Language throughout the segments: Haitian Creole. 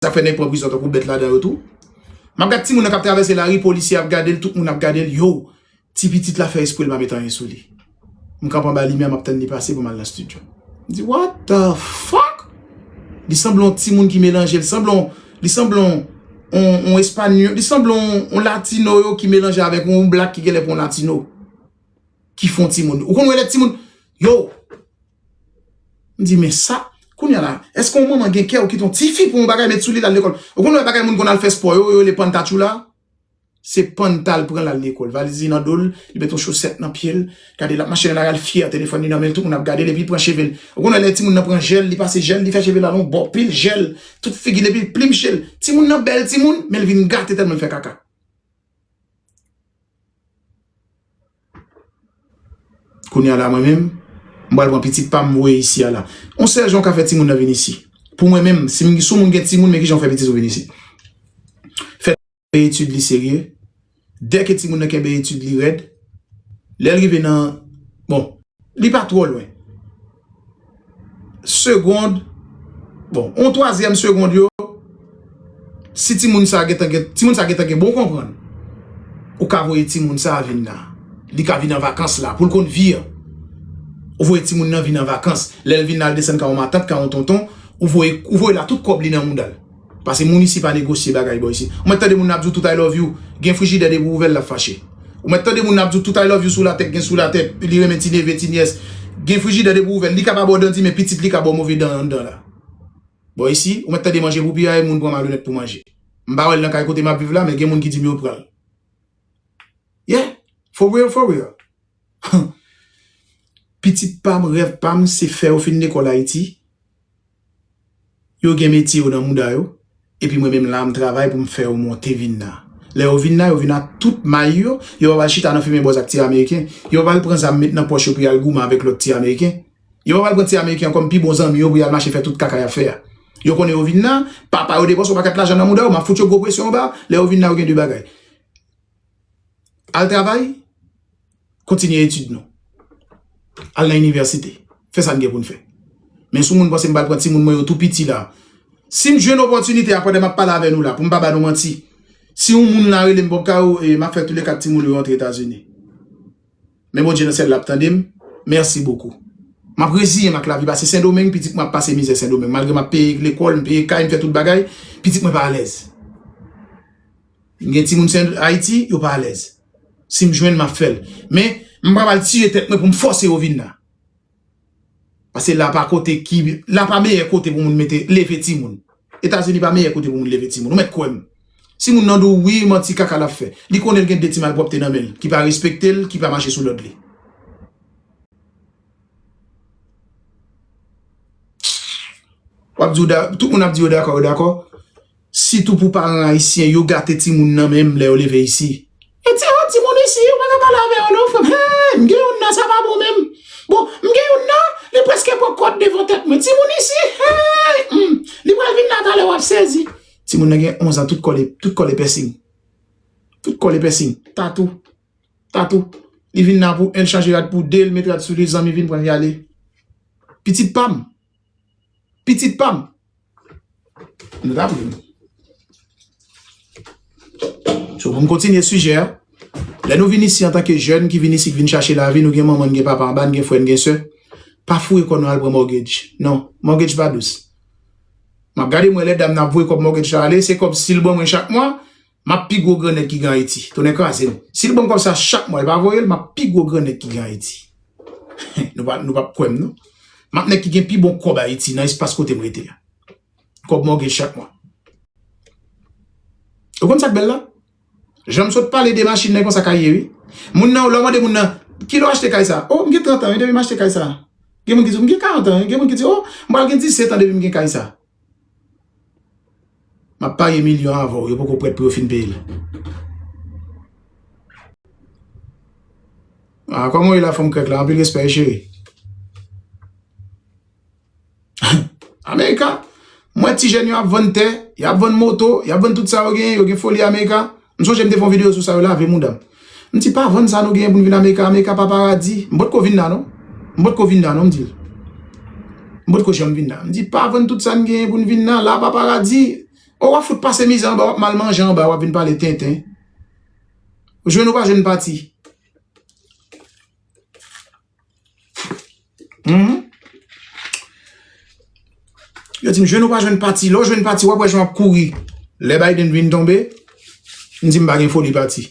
Sa fè nèg pran prizon tankou bèt ladan yo tou. M ap gad timoun nan k ap travèse lari, polisye ap gade l, tout moun ap gade l. Yow! Ti pitit la fè espre l pa met anyen sou li. M kanpe anba limyè, m ap tann li pase pou m al nan stidyo. M di, What the fuck? Li sanble yon timoun ki melanje. Li sanble yon espanyòl. Li sanble yon latino yo ki melanje avèk yon blak ki genlè pa yon latino. Ki fè yon timoun. Ou konn wè lè timoun. Yow! M di men sa, kounya la, eske yon manman gen kè ou kite yon tifi pou yon bagay met sou li lal lekòl? Ou konn lè bagay moun konn al fè spò yo, yo rele panntatchoula? Se pannta l pran lal lekòl, valiz li nan do l, li met yon chosèt nan pye l, gade l ap mache nan lari al fyè, telefòn li nan men l, tout moun ap gade l epi l pran cheve l. Ou konn wè lè timoun nan pran jèl, li pase jèl, li fè cheve l al yon bò, pil jèl, tout figi l epi l plimche l. Timoun nan bèl timoun, men l vin gate tèlman l fè kaka. Kounye a la mwen menm, m pral pran pitit pa m voye isi a la. On sèl jan w ka fè timoun nan vin isi. Pou mwen menm, si m si w moun gen timoun, men ki jan w fè pitit ou vin isi. Fè kenbe etid li serye. Dè ke timoun nan kenbe etid li rèd, lè l rive nan, bon, li pa twò lwen. segond bon on twazyèm segond yo si ti moun sa gentan gen ti moun sa gentan gen bon konprann ou ka voye ti moun sa vin la li ka vin an vakans la poul konn vi an ou voye ti moun nan vin an vakans lèl vin la al desann ka on matant ka on tonton ou voye la tout kòb li nan moudal. Pase moun isi pa negosye bagay bò isi. Ou mèt tande moun nan ap di w tout I love you, gen frijidè depi w ouvè l lap fache. Ou mèt tande moun nan ap di w tout I love you sou latè k gen sou latè, li renmen ti neve, ti nyès. Gen frijidè depi w ouvè l, li ka pa ba w dan di men pitit li ka ba w move dan anndan la. Bò isi, ou mèt tande manje pou piyaye moun pran malonèt pou manje. M pa wè l nan kay kote m ap viv la men gen moun ki di m yo pran l. Yeah! For real, for real! Humm! Pitit pa m, rèv pa m se fè yo fin lekòl Ayiti. Yo gen metye yo nan mouda yo, epi mwen menm la m travay pou m fè yo monte vin la. Lè yo vin la, yo vin ak tout may yo, yo pa pral chita nan fimen bòz ak ti Ameriken, yo pa pral pran zam met nan pòch yo pou y al goumen avèk lòt ti Ameriken, yo pa pral pran ti Ameriken an kòm pi bon zanmi yo pou y al mache fè tout kaka y ap fè a. Yo konnen yo vin la, papa yo depanse yon paket lajan nan mouda yo, m ap fout yo gwo presyon anba, lè yo vin la yo gen de bagay, al travay, Kontinye etid nou. Al nan inivèsite. Fè sa n gen pou n fè. Men sou moun panse m pral pran timoun mwen yo tou piti la. Si m jwenn opòtinite a pandan m ap pale avè nou la pou m pa ba nou manti, si yon moun la rele m Bob Caro, e m ap fè toule kat timoun yo rantre Etazini. Men Bondye nan syèl la ap tande m. Mèsi bokou. M ap reziye m ak lavi pase Sendomeng, pitit mwen ap pase mizè Sendomeng. Malgre m ap peye lekòl, m peye kay, m fè tout bagay, pitit mwen pa alèz. Gen timoun se Ayiti yo pa alèz. Si m jwenn map fèl. Men m pap al tiye tèt mwen pou m fòse yo vin la. Pase la pa kote ki la pa meyè kote pou moun mete leve timoun. Etazini pa meyè kote pou moun leve timoun. Ou mèt kwè m. Si moun nan di w wi manti kaka lap fè. Li konnen l gen 2 ti malpwòpte nan men l ki pa respekte l ki pa mache sou lòd li. Wap di w dakò tout moun ap di yo dakò yo dakò. Sitou pou paran ayisyen yo gate timoun nan menm lè yo leve isi. E ti a timoun isi ou paka pale avè yo non frèm hee m gen youn nan sa pa bon menm bon m gen youn nan li preske pran kòd devan tèt mwen timoun isi hee humm li pral vin la talè wap sezi. Timoun nan gen 11 an tout kòl tout kòl e pèsing tout kòl e pèsing tatou tatou li vin la pou 1 l chanje rad pou 2 l met rad sou li zanmi vin pran yale pitit pam. Pitit pam. Nou ta vle. So pou m kontinye sijè a. Lè nou vin isi antanke jèn ki vin isi ki vin chache lavi nou gen manman n gen papa anba n gen frè n gen sè. Pa foure kò nou al pran mògej. Non. Mògej pa dous. M ap gade m wè lè dam nan ap voye kòb mògej la ale se kòb si l ban mwen chak mwa Map pi gwo gran nèg ki gen ayiti. Tonnè kraze m. Sil banm kòb sa chak mwa li pa voyel map pi gwo gran nèg ki gen ayiti. Nou pap kwèm non. Map nèg ki gen pi bon kòb ayiti nan espas kotem rete a. Kòb mwen gen chak mwa. Ou konn sak bèl la? Janm sot pale de machin nan e konsa kay ye wi. Moun nan lèw mande moun nan kilè w achte kay sa? Oh m gen 30 ans wi depi m achte kay sa. Gen moun ki di w m gen 40 ans wi. Gen moun ki di oh m pral gen 17 ans depi m gen kay sa. Map parye milyon avèw yo poko prèt pou yo fin peyel. Ah kòman ou ye la fanm krèk la anpil respè wi cheri. America mwen ti jèn yo ap vann tè, yap vann moto, yap vann tout sa yo genyen, yo gen foli America. M sonje m te fè yon video sou sa yo lave moudam. M di pa vann sa nou genyen pou nou vin America, America pa paradi. M potko vin la non. M potko vin la non m di l. M potko janm vin la. M di pa vann tout sa n genyen pou nou vin la, la pa paradi. O wap fout pase mizè anba, wap mal manje anba, wap vin pale tenten. Jwenn ou pa jwenn pati. Humm Yo di m jwenn ou pa jwenn pati lè w jwenn pati wap wè jan wap kouri lè Biden vin tonbe m di m pa gen foli pati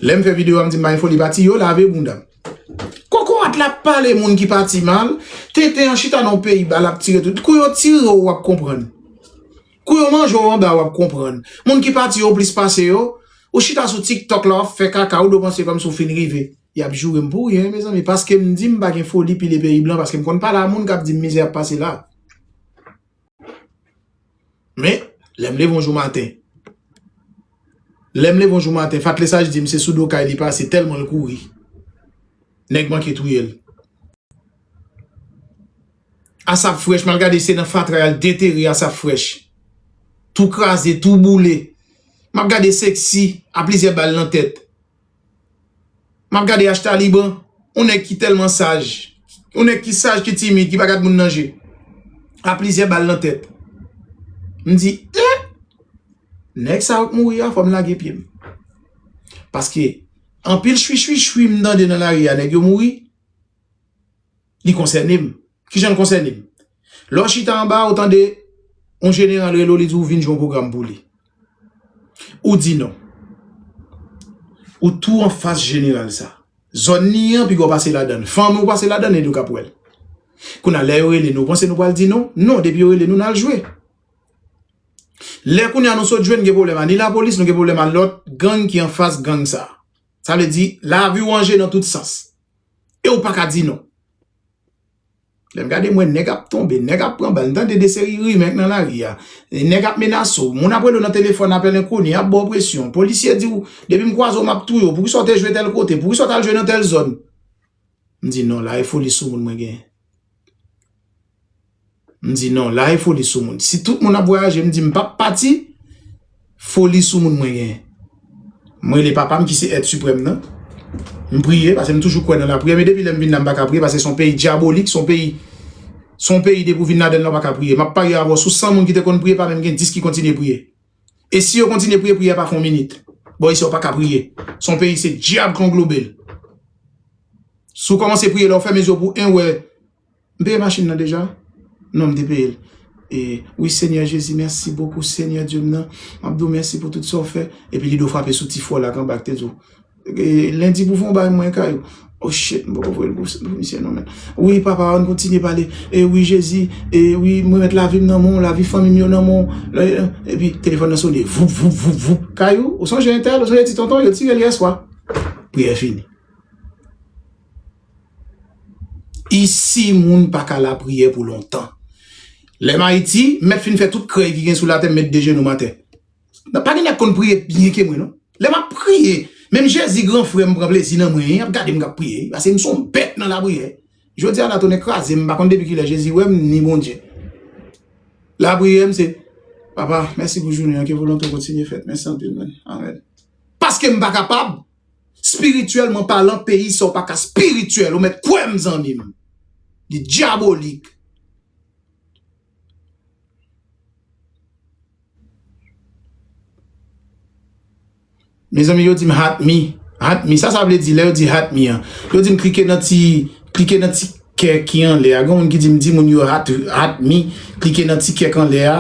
lè m fè video a m di m pa gen foli pati yo lave bounda m kokorat la ap pale moun ki pati mal tenten an chita nan yon peyi bal ap tire tout kou yo tire w wap konprann kou yo manje w anba wap konprann moun ki pati yo plis pase yo ou chita sou tik tok la wap fè kaka ou dwe panse kòmsi w fin rive. Yap jourem pou ryen mezanmi paskem dim pa gen foli pile peyi blan paskem konn pale a moun kap dim mizè ap pase la men lèm leve yon jou maten lèm leve yon jou maten fatlesaj dim se sou do kay li pase tèlman l kouri nèg manke touyel asap frèch mal gade se nan fatra yal detere asap frèch tou kraze tou boule map gade seksi a plizyè bal nan tèt Map gade H-Taliban, yon nèg ki tèlman saj, yon nèg ki saj, ki timid, ki pa gad moun nan je, a plizyè bal nan tèt. M di, eh! Nèg sa yo k mouri a, fò m lage pye m. Paske, anpil chwichwichwi m tande nan lari a, nèg yo mouri. Li konsène m. Ki jan l konsène m? Lè w chita anba a, ou tande yon jeneral rele w, li di w vin jwe yon pwogram pou li. Ou di non. Ou tou anfas jeneral sa. Zòn li an, piga w pase ladan l. Fanmi w pase ladan l, e li w k ap wè l. Kounye a, lè yo rele nou, ou panse nou pral di non? Non, depi yo rele nou, n al jwe. Lè kounye a nou sot jwe, n gen pwoblèm a ni lapolis, nou gen pwoblèm a lòt gang ki anfas gang sa. Sa vle di, lavi w anje nan tout sans. e ou paka di non. Lè m gade m wè nèg ap tonbe, nèg ap pran bal, m tande de seri rimè nan lari a, nèg ap menase w, moun ap rele w nan telefòn, apèl enkoni, y ap ba w presyon, polisye di w depi m kwaze w m ap touye w, poukisa w te jwe tèl kote, poukisa w t al jwe nan tèl zòn. M di non la e foli soumoun mwen genyen. M di non, la e foli sou moun. Si tout moun ap vwayaje, m di m pap pati, foli sou moun mwen genyen. M rele papa m ki se èt siprèm nan, m priye, pase m toujou kwè nan lapriyè, men depi lè m vin la m pa ka priye, pase son peyi dyabolik, son peyi, son peyi depi w vin ladan l la w pa ka priye. M ap parye avè w sou 100 moun ki te konn priye, pa menm gen 10 ki kontinye priye. E si yo kontinye priye, priyè pa fè yon minit. Bò isi yo pa ka priye. Son peyi se dyab ki anglobel. Si w kòmanse priye, lè w fèmen zye w pou 1 wè. M peye machin nan deja? Non m te peyel e wi senyè jezi mèsi bokou senyè dye m nan map diw mèsi pou tout sa ou fè epi li do frape sou ti fol ak anba ak te diw lendi pou fon bagay mwen kay ou o shit m poko voyel pou misye non men wi papa ann kontinye pale e wi jezi e wi m remèt lavim nan men w lavi fanmim yo nan men w epi telefòn nan sone voup voup voup voup kay ou ou sonje entèl ou sonje ti tonton yo tirel yèswa priyè fini. Isi moun pa ka lapriyè pou lontan. Lè m Ayiti, m mèt fin fè tout krèy ki gen sou latè m met de jenou m atè. Pa gen nèg k konn priye pi byen ke mwen non. Lè m ap priye, menm Jezi gran frè m pran plezi nan mwen, y ap gade m k ap priye wi, paske m son bèt nan lapriyè. Jodi a la tonnè kraze m, m pa konn depi kilè Jezi wè m ni Bondye. Lapriyè m se, Papa, mèsi pou jounen an, ke volonte w kontinye fèt. Mèsi anpil man. Amèn. Paske m pa kapab. Spirityèlman palan peyi sa ou pa ka spirityèl ou mèt kwè m zanmi m li dyabolik. Mezanmi yo dim hat mi hat mi sa sa vle di lè yo di hat mi an yo dim klike nan ti klike nan ti. Kè ki anlè a. Gen yon moun ki di m di moun yo hat mi klike nan ti kèk anlè a.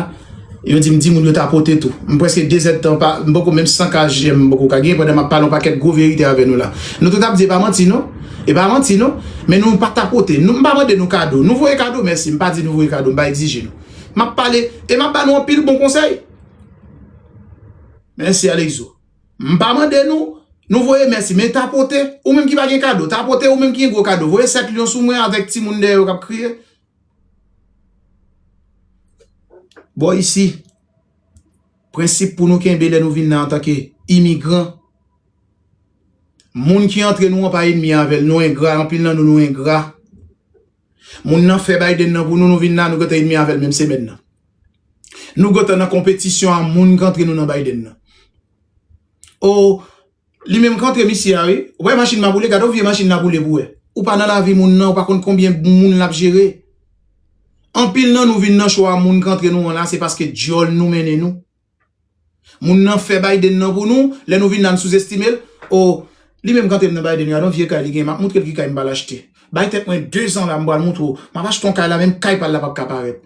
Yo di m di moun yo tapote tou. M preske 2 zèd tan pa, m poko menm 100 ka jèm m poko ka gen pandan m ap pale yon pakèt gwo verite avè nou la. Nou tout ap di e pa manti non. E pa manti non. Men nou pa tapote. M pa mande nou kado. Nou voye kado mèsi. M pa di nou voye kado. M pa egzije nou. M ap pale e m ap ba nou anpil bon konsèy. Mèsi Alexo. M pa mande nou, nou voye mèsi, men tapote, ou menm ki pa gen kado, tapote ou menm ki gen gwo kado, voye 7 lyon sou mwen avèk timoun dèyè yo k ap kriye. Bò isi, prensip pou nou kenbe lè nou vin la antanke imigran, moun ki antre nou an pa enmi avè l, nou engra, anpil nan nou nou engra. Moun nan fè Biden nan pou nou nou vin la nou gentan enmi avèl menm semèn nan. Nou gentan nan konpetisyon a moun k antre nou nan Biden nan. Oh li menm k antre misye a wi. Ou pa wè machin ma boule gad yon vye machin la boule pou wè. Ou pa nan lavi moun nan ou pa konn konbyen moun lap jere. Anpil nan nou vin nan cho a moun k antre nou an la se paske dyòl nou mennen nou. Moun nan fè Biden nan pou nou, lè nou vin la n souzestime l, oh li menm kantre m nan Biden gadon vye kay li gen, m ap moutre l ki kay m pral achte, bay tèt mwen 2 zan la m pral moutre w, m ap achte yon kay la menm kay pa l la pap ka parèt.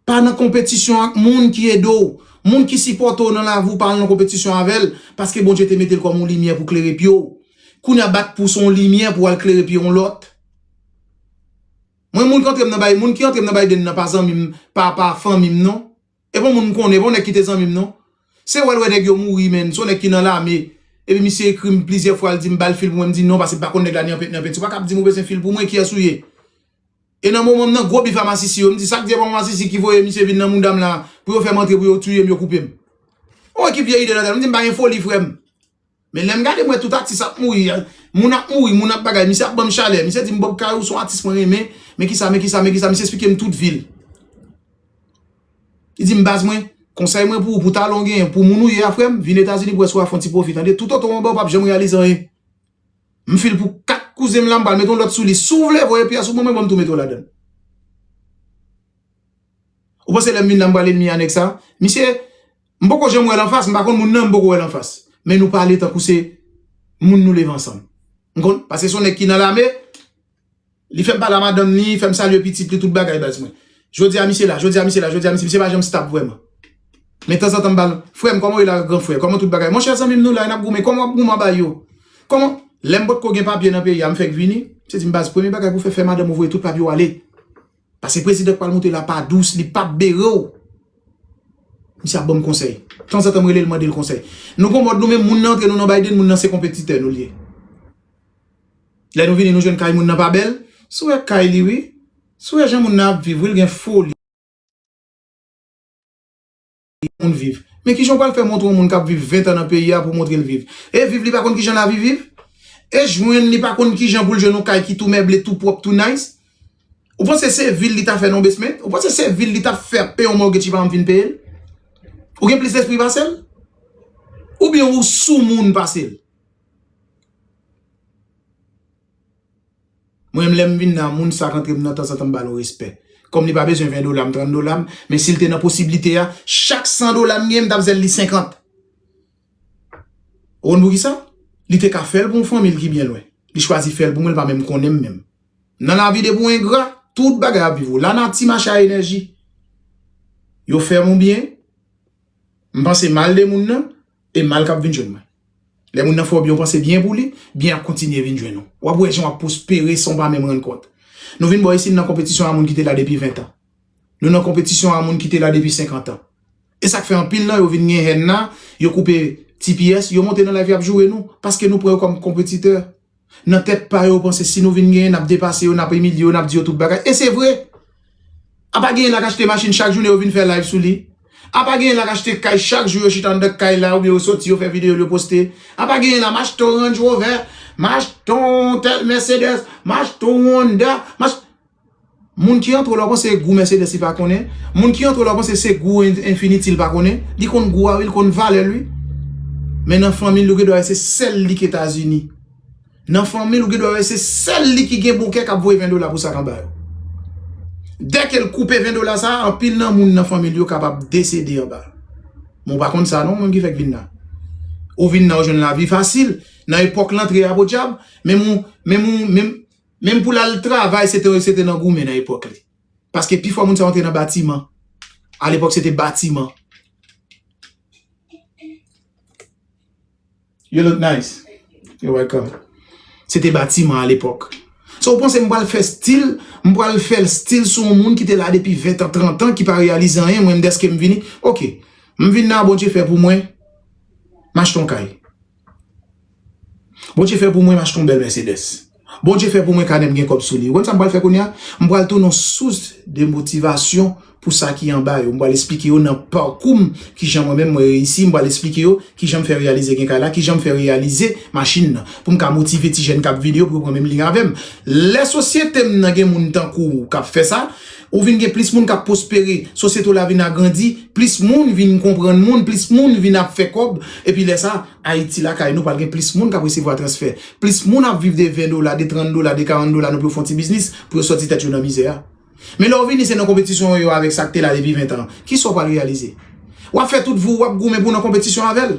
Pa nan konpetisyon ak moun ki ede w, moun ki sipòte w nan lavi w pa al nan konpetisyon avè l, paske Bondye te mete l kòm yon limyè pou klere pye w, kounye a bat pou se yon limyè pou w al klere pye yon lòt. Mwen moun kantre m nan Biden, moun ki antre m nan Biden nan pa zanmi m, pa pa fanmi m non. E bon moun m konnen, e bon nèg ki te zanmi m non. Se wè l wè nèg yo mouri menn, se yon nèg ki nan lame. Epi misye ekri m plizyè fwa l di m ba l fil pou mwen, m di non pase m pa konn nèg la ni anpent ni anpenti. Ou pa ka ap di m ou bezwen fil pou mwen, kiyès ou ye? E nan moman m nan gwo bif a masisi yo, m di sa k di e pa masisi ki voye misye vin nan mouda m la pou yo fè m antre pou yo touye m, yo koupe m. Ou wè ki vye ide nan tèt m, m di m pa gen foli frè m. Men lèm gade mwen tout atis ap mouri Moun ap mouri, moun ap bagay Misye ap banm chalè, misye dim Bob Kay ou son atis mwen renmen Men kisa, men kisa, men kisa Misye esplikem tout vil Li dim baz mwen, konsèy mwen pou ou Pou talan ou genyen, pou moun ou ye a frèm Vin etazini pou wè si wap fè yon ti pwofi tande Tout oto mwen baw pap janm reyalize anyen M fil pou 4 kouzenm la m pral met yon lòt sou li Si w vle voye pyès ou ban mwen banm tou mete w ladann Ou panse lèm vin la m pral elmi a nèg sa Misye M poko janm wèl anfas m pa konn moun nan m poko wèl anfas men nou pale tankou se moun nou leve ansanm m konn paske son nèg ki nan lame li fèm pale a madanm li fèm salye pitit li tout bagay baz mwen jodia misye la jodia misye la jodia misye misye pa janm stab vrèman men tanzantan m bal frèm kòman ou ye la gran frè kòman tout bagay monchè zanmim nou la nap goumen kòman wap goumen anba yo kòman lèm potko gen papye nan peyi a m fèk vini misye dim baz premye bagay pou fè fè madanm ou voye tout papye w ale. Pase prezidan pral moute la pa dous li pap bere w. Misye ap banm konsèy. Tanzantan m rele l mande l konsèy. Nou gon mòd nou menm moun nan antre nou nan Biden moun nan se konpetitè nou l ye. Lè nou vini nou jwenn kay moun nan pa bèl. Sou wè kay li wi. Sou wè jan moun nan ap viv wi l gen foli. yon moun viv. Men kijan w pral fè montre yon moun k ap viv 20 an nan peyi a pou w montre l viv? E viv li pa konn kijan lavi viv? E jwenn li pa konn kijan pou l jwenn yon kay ki tou mèble, tou pwòp, tou nice? Ou panse se vil li ta fè nan yon basement? Ou panse se vil li ta fè ap peye yon mortgage li pa janm fin peye l? Ou gen plis lespri pase l? Oubyen ou soumoun pase l? Mwen menm lèm vin nan moun sak antrem nan tanzantan m bal on respè. Kòm li pa bezwen 20 dolam, 30 dolam, men sil te nan posiblite a, chak 100 dola m genyen m tap zèl li 50. Ou konn poukisa? Li te ka fèl pou on fanmil ki byen lwen. Li chwazi fèl pou mwen li pa menm konnenm menm. Nan lavi depi ou engra, tout bagay ap viv ou. Lanati mache a enèji. Yo fèm on byen, m panse mal de moun nan, E mal kap vin jwenn mwen. Lè moun nan fè w byen w panse byen pou li, byen ap kontinye vin jwenn ou. Wap wè jan wap pwospere san w pa menm rann kont. Nou vin bò isit nan konpetisyon a moun ki te la depi 20 tan. Nou nan konpetisyon a moun ki te la depi 50 tan. E sak fè anpil nan yo vin gen hèn la, yo koupe tps, yo monte nan live yap joure nou, paske nou pran yo kòm konpetitè. Nan tèt pa yo, yo panse si nou vin genyen, n ap depase yo, n ap imilye yo, n ap di yo tout bagay. E se vre! Apa genyen la k achte machin chak jounen yo vin fè live sou li? Apa genyen la k achte kay chak jou yo chita anndan kay la oubyen yo soti yo fè videyo l yo poste? Apa genyen la m achte yon Range Rover, m achte yon tèl Mercedes, m achte yon Honda, m achte. Moun ki antre w la w panse e gou Mercedes li pa konnen? Moun ki antre w la w panse se gou Infiniti li pa konnen? Li konn gou a wi, li konn valè l wi. Men nan fanmi l ou gen dwa wè se sèl li k Etazini. Nan fanmi l ou gen dwa wè se sèl li ki gen bon kè k ap voye 20 dola pou sak anba yo. Dè ke l koupe 20 dola sa a, anpil nan moun nan fanmi l yo kapab desede anba. Men w pa konn sa non ou menm ki fèk vin la. Ou vin la ou jwenn lavi fasil, nan epòk lantre a podyab, menm ou, menm ou, menm. Menm pou l al travay se te se te nan goumen nan epòk li. Paske pifò moun sa yo te nan batiman. A lepòk se te batiman. You look nice. You're welcome. Se te batiman a lepòk. So ou panse m pral fè stil, m pral fè l stil sou yon moun ki te la depi 20 an, 30 an, ki pa reyalize anyen, mwen m deske m vini. Ok, m vin nan Bondye fè pou mwen, m achte yon kay. Bondye fè pou mwen m achte yon bèl Mercedes Bondye fè pou mwen kanè m gen kòb sou li Ou konn sa m pral fè kounye a M pral tounen yon sous de motivasyon pou sa ki anba yo M pral esplike yo nan pakou m kijan mwen menm mwen reyisi M pral esplike yo kijan m fè reyalize gen kay la kijan m fè reyalize machin nan pou m ka motive ti jèn k ap vini yo pou yo pran menm liy avè m Lè sosyete m nan gen moun tankou w k ap fè sa Ou vin gen plis moun k ap pwospere, sosyete w la vin agrandi, plis moun vin konprann moun, plis moun vin ap fè kòb, epi lè sa, Ayiti lakay nou pral gen plis moun k ap resevwa transfè. Plis moun ap viv de 20 dola, de 30 dola, de 40 dola nou pou yo fè yon ti biznis, pou yo sòti tèt yo nan mizè a. Men lè w vini se nan konpetisyon yo avèk sa k te la depi 20 tan an. Ki sa w pral reyalize? W ap fè tout vou ou, w ap goumen pou w nan konpetisyon avè l?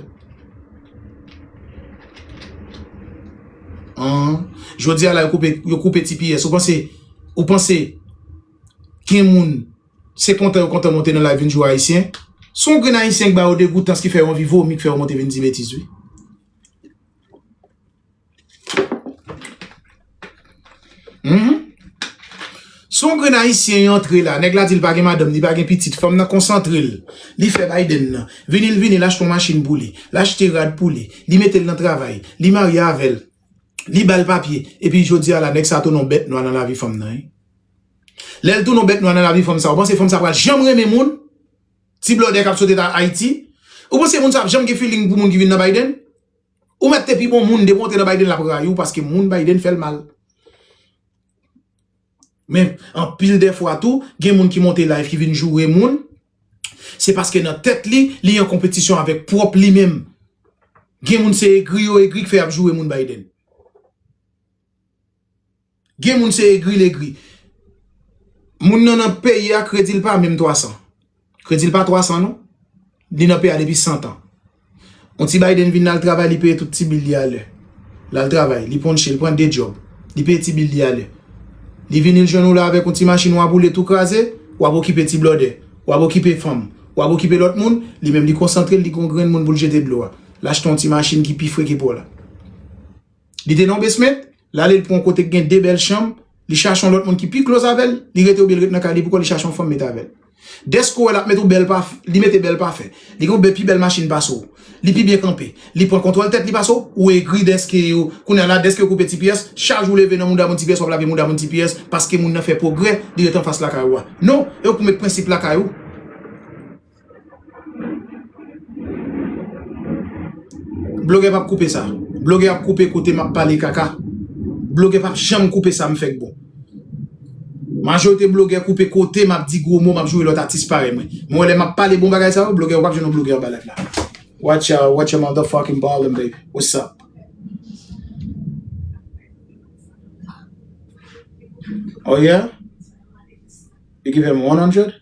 An! Jodi a la yo koupe ti piyès. Ou panse Ou panse gen moun se kontan yo kontan monte nan live vin jwe ayisyen? Se yon grenn ayisyen k ba yo degoutans ki fè yo anvi vomi k fè yo monte vin di betiz wi. Humm. Se yon grenn ayisyen antre la, nèg la di l pa gen madanm, li pa gen pitit, fanm nan konsantre l, li fè Biden nan, vini l vini l achte yon machin pou li, l achte rad pou li, li mete l nan travay, li marye avè l, li bal papye epi jodi a la nèg sa tounen yon bèt nwa nan lavi fanm nan wi lèl tounen yon bèt nwa nan lavi fanm sa ou panse fanm sa pral janm renmen moun ti blòdè kap sot eta ayiti ou panse moun sa ap janm gen filing pou moun ki vin nan Biden ou mèt te pi bon moun depi ou antre nan Biden lap rayiw paske moun Biden fèl mal men anpil dèfwa tou gen moun ki monte live ki vin joure moun Se paske nan tèt li, li an konpetisyon avèk pwòp li menm. Gen moun se egri yo egri k fè y ap joure moun Biden. Gen moun se egri l egri. Moun nan nan peyi a kredi l pa menm 300. Kredi l pa 300 non. Li nan peyi a depi 100 tan. On ti Biden vin al travay li peye tout ti bil li a lè. Lal travay, li ponche, li pran 2 djòb, li peye ti bil li a lè. Li vini l jwenn ou la avèk on ti machin wa boule tou kraze, wap okipe ti blòdè, wap okipe fanm, wap okipe lòt moun, li menm li konsantre l li gen on grenn moun pou l jete dlo a. L achte on ti machin ki pi fre ke pa w la. Li te nan yon basement, li ale li pran yon kote ki gen 2 bèl chanm, li chache yon lòt moun ki pi close avè l, li rete oubyen li rete nan kay li poukò li chache yon fanm met avè l. Dèske ou wè l ap mete yon bèl paf, li mete bèl pafen, li gen yon bè pi bèl machin pase w, li pi byen kanpe, li pran kontwòl tèt li pase w, ou egri dèske yo, kounye a la dèske yo koupe ti pyès, chaj ou leve nan mouda moun ti pyès w ap lage mouda moun ti pyès paske moun nan fè pwogrè, li rete anfas lakay ou a. Non, e w k pou met prensip lakay ou. Blogè pap koupe sa. Blogè ap koupe kote map pale kaka. Blogè pap janm koupe sa m fè k bon. Majorite blogè koupe kote map di gwo mo map joure lòt atis parèy mwen. Men wè lè map pale bon bagay sa yo blogè ou pap jwenn yon blogè anba live la. Watch out, watch your motherfucking volume baby. What's up? Oh yeah? You give him 100?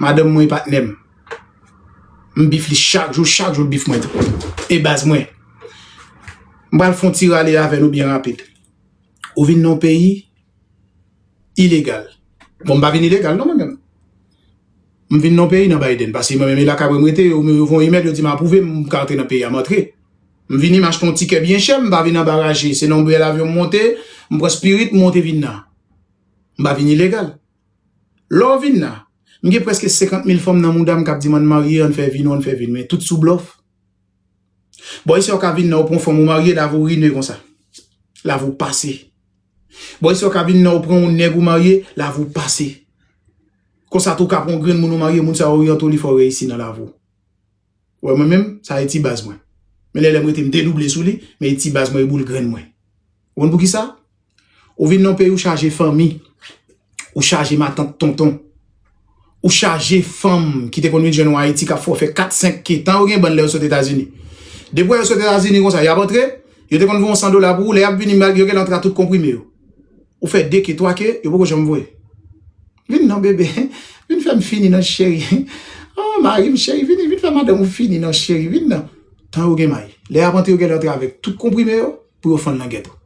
Madanm mwen e patnè m. M bif li chak jou, chak jou l bif mwen tou. E baz mwen. M pral fon ti rale avè nou byen rapid. Ou vin nan yon peyi ilegal. Bon m pa vin ilegal non mwen menm. M vin nan yon peyi nan Biden. Pase mwen menm e lakay mwen m rete. Yo voye yon imèl yo di m apwouve m ka antre nan peyi a. M antre. M vini m achte yon tikè byen chè. M pa vin anba raje. Se nan yon bèl avyon m monte. M pran spirit m monte vin nan. M pa vin ilegal. Lè w vin la, m gen prèske 50 mil fanm nan mouda m k ap di m ann marye, ann fè vi nou, ann fè vi n men, tout sou blòf. Bon e sa w ka vin la w pran fanm ou marye lavi w rine konsa? Lavi w pase. Bon e sa w ka vin la w pran yon nèg ou marye, lavi w pase. Konsa tou w ka pran yon grenn moun ou marye, moun sa oryante w li fè w reyisi nan lavi w. Ou wè mwen menm, sa e ti baz mwen. Men lè lè m rete m dedouble sou li, men e ti baz mwen, e boul grenn mwen. Ou konn poukisa? Ou vin nan yon peyi ou chaje fanmi, ou chaje matant tonton, ou chaje fanm ki te konn vin jwenn ou Ayiti k ap fè w fè kat senk ke tan yo gen bann lè yo sot Etazini. Depi wè yo sot Etazini konsa, y ap antre, yo te konn voye yon san dola pou ou, lè y ap vini mal yo genlè antre ak tout konprime yo. Ou fè de ke, twa ke, yo poko janm voye. Vin non bebe, vin fèm fini non cheri. Oh marim cheri vini, vin fè madanm ou fini non cheri, vin non. Tan yo gen may. Lè yap antre yo genlè antre avèk tout konprime yo pou yo fann nan gèt ou.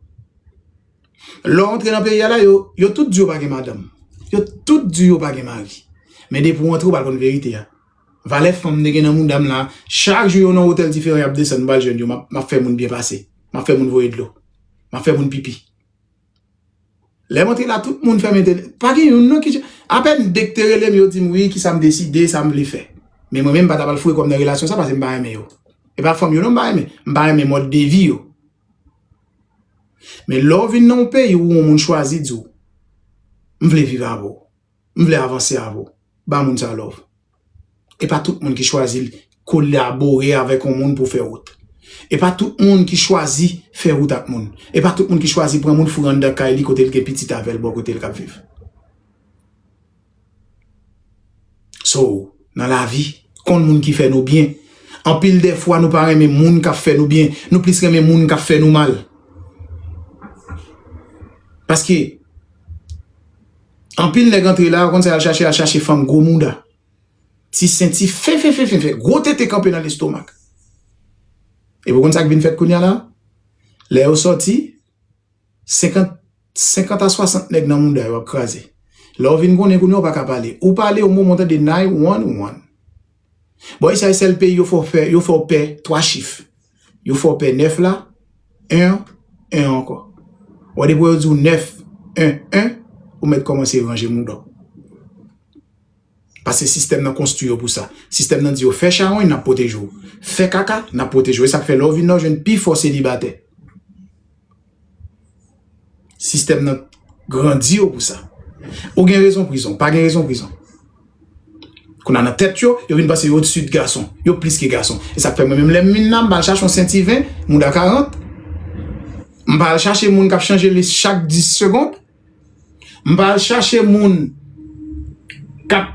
Lè w antre nan peyi a la yo, yo tout di yo pa gen madanm. Yo tout di yo pa gen mari. Men depi w antre ou pral konn verite a. Valè fanm mte gen nan mouda m la, chak jou yo nan otèl diferan yap desann m pral jwenn yo map fè moun byen pase. Map fè moun voye dlo. Map fè moun pipi. Lè mwen te la tout moun fèmen te Pa gen youn non ki je Apèn de ki te rele m yo di m wi ki sa m deside, sa m vle fè. Men mwen menm m pa ta pral foure kò m nan relasyon sa pase m pa renmen yo. E pa fanm yo non m pa renmen. M pa renmen mòd de vi yo. Men lè w vin nan yon peyi ou yon moun chwazi di w m vle viv avè w. M vle avanse avw. Ba moun sa love. E pa tout moun ki chwazi kolabore avek yon moun pou fe wout. E pa tout moun ki chwazi fe wout ak moun. E pa tout moun ki chwazi pran moun foure andan kay li kote l gen pitit avel bo kote l kap viv. So, nan lavi, konn moun ki fe nou byen. Anpil de fwa nou pa renmen moun kap fe nou byen. Nou plis renmen moun kap fe nou mal. Paske. Anpil nèg antre la, ou konn sa y'al chache, y'al chache fanm gwo mouda. Ti sen, ti fefefefefe, gwo tete kanpe nan lestomak. Epi ou konn sa ki vin fèt kounya la? Lè yo sòti, 50, 50 a 60 nèg nan mouda yo ap kraze. Lè ou vin konnen kounya ou pa ka pale. Ou pale yon moman ou tande 911. Bon usa sel peyi yo fè w pè, yo fè w pè 3 chif. Yo fè w pè 9 la, 1 an, 1 an ankò. Bon depi yo di w 9, 1, 1, ou mèt kòmanse ranje mouda w. Pase sistèm nan konstwi yo pou sa. Sistèm nan di yo fè chawony nap pwoteje w. Fè kaka nap pwoteje w. E sak fè lè w vin la w jwenn pi fò selibatè. Sistèm nan grandi yo pou sa. Ou gen rezon prizon, pa gen rezon prizon. Kou nan nan tèt yo, yo vin pase yo ou tsu de gason. Yo plis ke gason. E sak fè mwen menm lèm min nan, mba al chache yon senti 20, mouda 40. Mba al chache moun kap chanje lis chak 10 segond. M pa al chache moun kap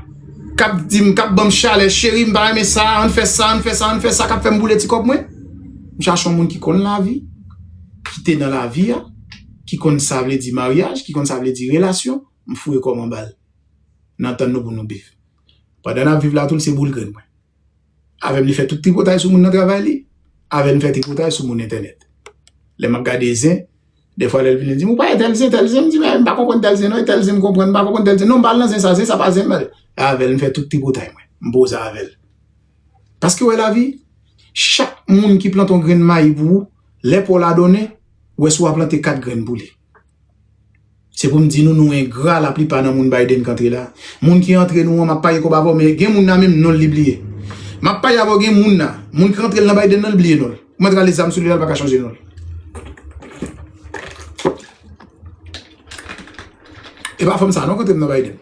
kap di m, kap ban m chalè, cheri m pa renmen sa, an n fè sa, an n fè sa, an n fè sa, kap fè m boule ti kòb mwen. M chache yon moun ki konn lavi, ki te nan lavi a, ki konn sa vle di maryaj, ki konn sa vle di relasyon, m fouye kò m anba l. N antann nou pou nou viv. Pandan n ap viv la tou l se boul grenn mwen. Avèm li fè tout tripotay sou moun nan travay li, avèm li fè tripotay sou moun entènèt. Lè map gade zen, defwa lèl vini di mou pa e tèl zen, tèl zen, mdi mè mpa konprann tèl zen non, e tèl zen mkonprann, mpa konprann tèl zen non, mpal nan zen sa, zen sa pa zen mwen. E avèl mfè tout tripotay mwen, mpoze avèl. Paske wè lavi, chak moun ki plante yon grenn mayi pou ou, lè paw la donnen, wè si wap plante 4 grenn pou li. Se pou m di nou nou engra la plipa nan moun Biden k antre la. Moun ki antre nou an map page kob avèw men gen moun nan menm non l li bliye. Map page avèw gen moun nan, moun ki rantre l nan Biden nan li bliye non l. Kouman t rale zam sou li la li paka chanje non l. E pa fanm sa non k antre m nan Biden.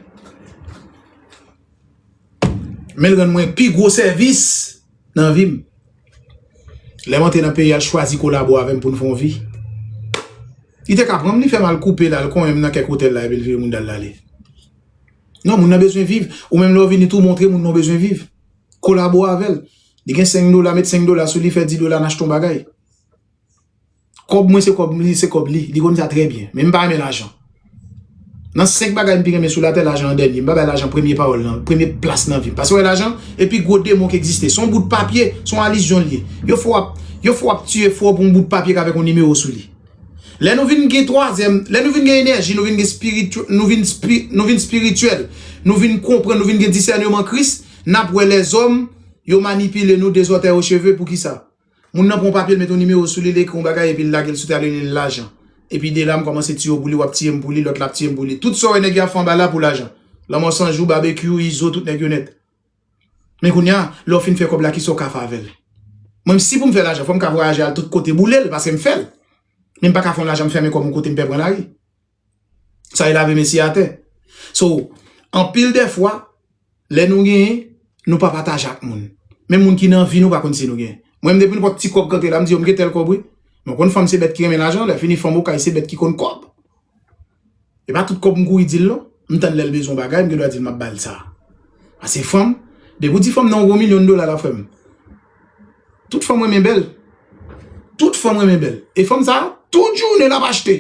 Men l rann mwen pi gwo sèvis nan vi m. Lè m antre nan peyi a, l chwazi kolabo avè m pou n fè yon vi. Li te ka pran m, li fè m al koupe l, al konyen m nan kèk otèl la epi l vire moun dal lale. Non, moun nan bezwen viv. Ou menm lè w vini tou montre moun nan w bezwen viv. Kolabo avè l. Li gen 5 dola, met 5 dola sou li, fè 10 dola, n achte yon bagay. Kòb mwen se kòb li, se kòb li. Li konn sa trè byen. Men m pa renmen lajan. Nan 5 bagay m pi renmen sou latè, lajan an dènye. M pa bay lajan premye pawòl nan, premye plas nan vi m. Pase wè lajan, e pi gwo demon ki egziste. Se yon bout papye, se yon alizyon li ye. Yon fwa w ap, yon fwa w ap tiye fò pou yon bout papye ki avèk yon nimewo sou li. Lè nou vin gen twazyèm, lè nou vin gen enèji, nou vin gen spiri, nou vin spi, nou vin spirityèl, nou vin konprann, nou vin gen disèneman Kris, n ap wè lèzòm yo manipile nou dezòtèyocheve. Poukisa? Moun nan pran yon papye l met yon nimewo sou li l ekri yon bagay epi l lage l sou tè li rele l lajan epi de la m kòmanse tiye w pou li w ap tiye m pou li lòt la ap tiye m pou li tout sa w wè nèg yo ap fè anba la pou lajan lanmò san jou babekyou izo tout nèg yo nèt men kounya lè w fin fè kòb la kisa w ka fè avè l mwen si pou m fè lajan fò m ka vwayaje al tout kote boule l paske m fè l men m pa ka fè yon lajan m fèmen kò m yon kote m pè pran lari. Sa e lave men si atè. So, anpil de fwa, lè nou genyen, nou pa pataje ak moun. Men moun ki nan vi nou pa konn si nou genyen. Mwen m depi nou pot ti kob kantre la m di yo m gen tel kob wi. Mwen konn fanm se bet ki renmen lajan, lè fini fanm okay se bet ki konn kob. E pa tout kob m kouri dil non. M tann lè l bezwen bagay m gen dwa dil map bal sa. Ase fanm, depi w di fanm nan yon gwo milyon dola la frè m. Tout fanm renmen bèl. Tout fanm renmen bèl. E fanm sa, tout jounen l ap achte.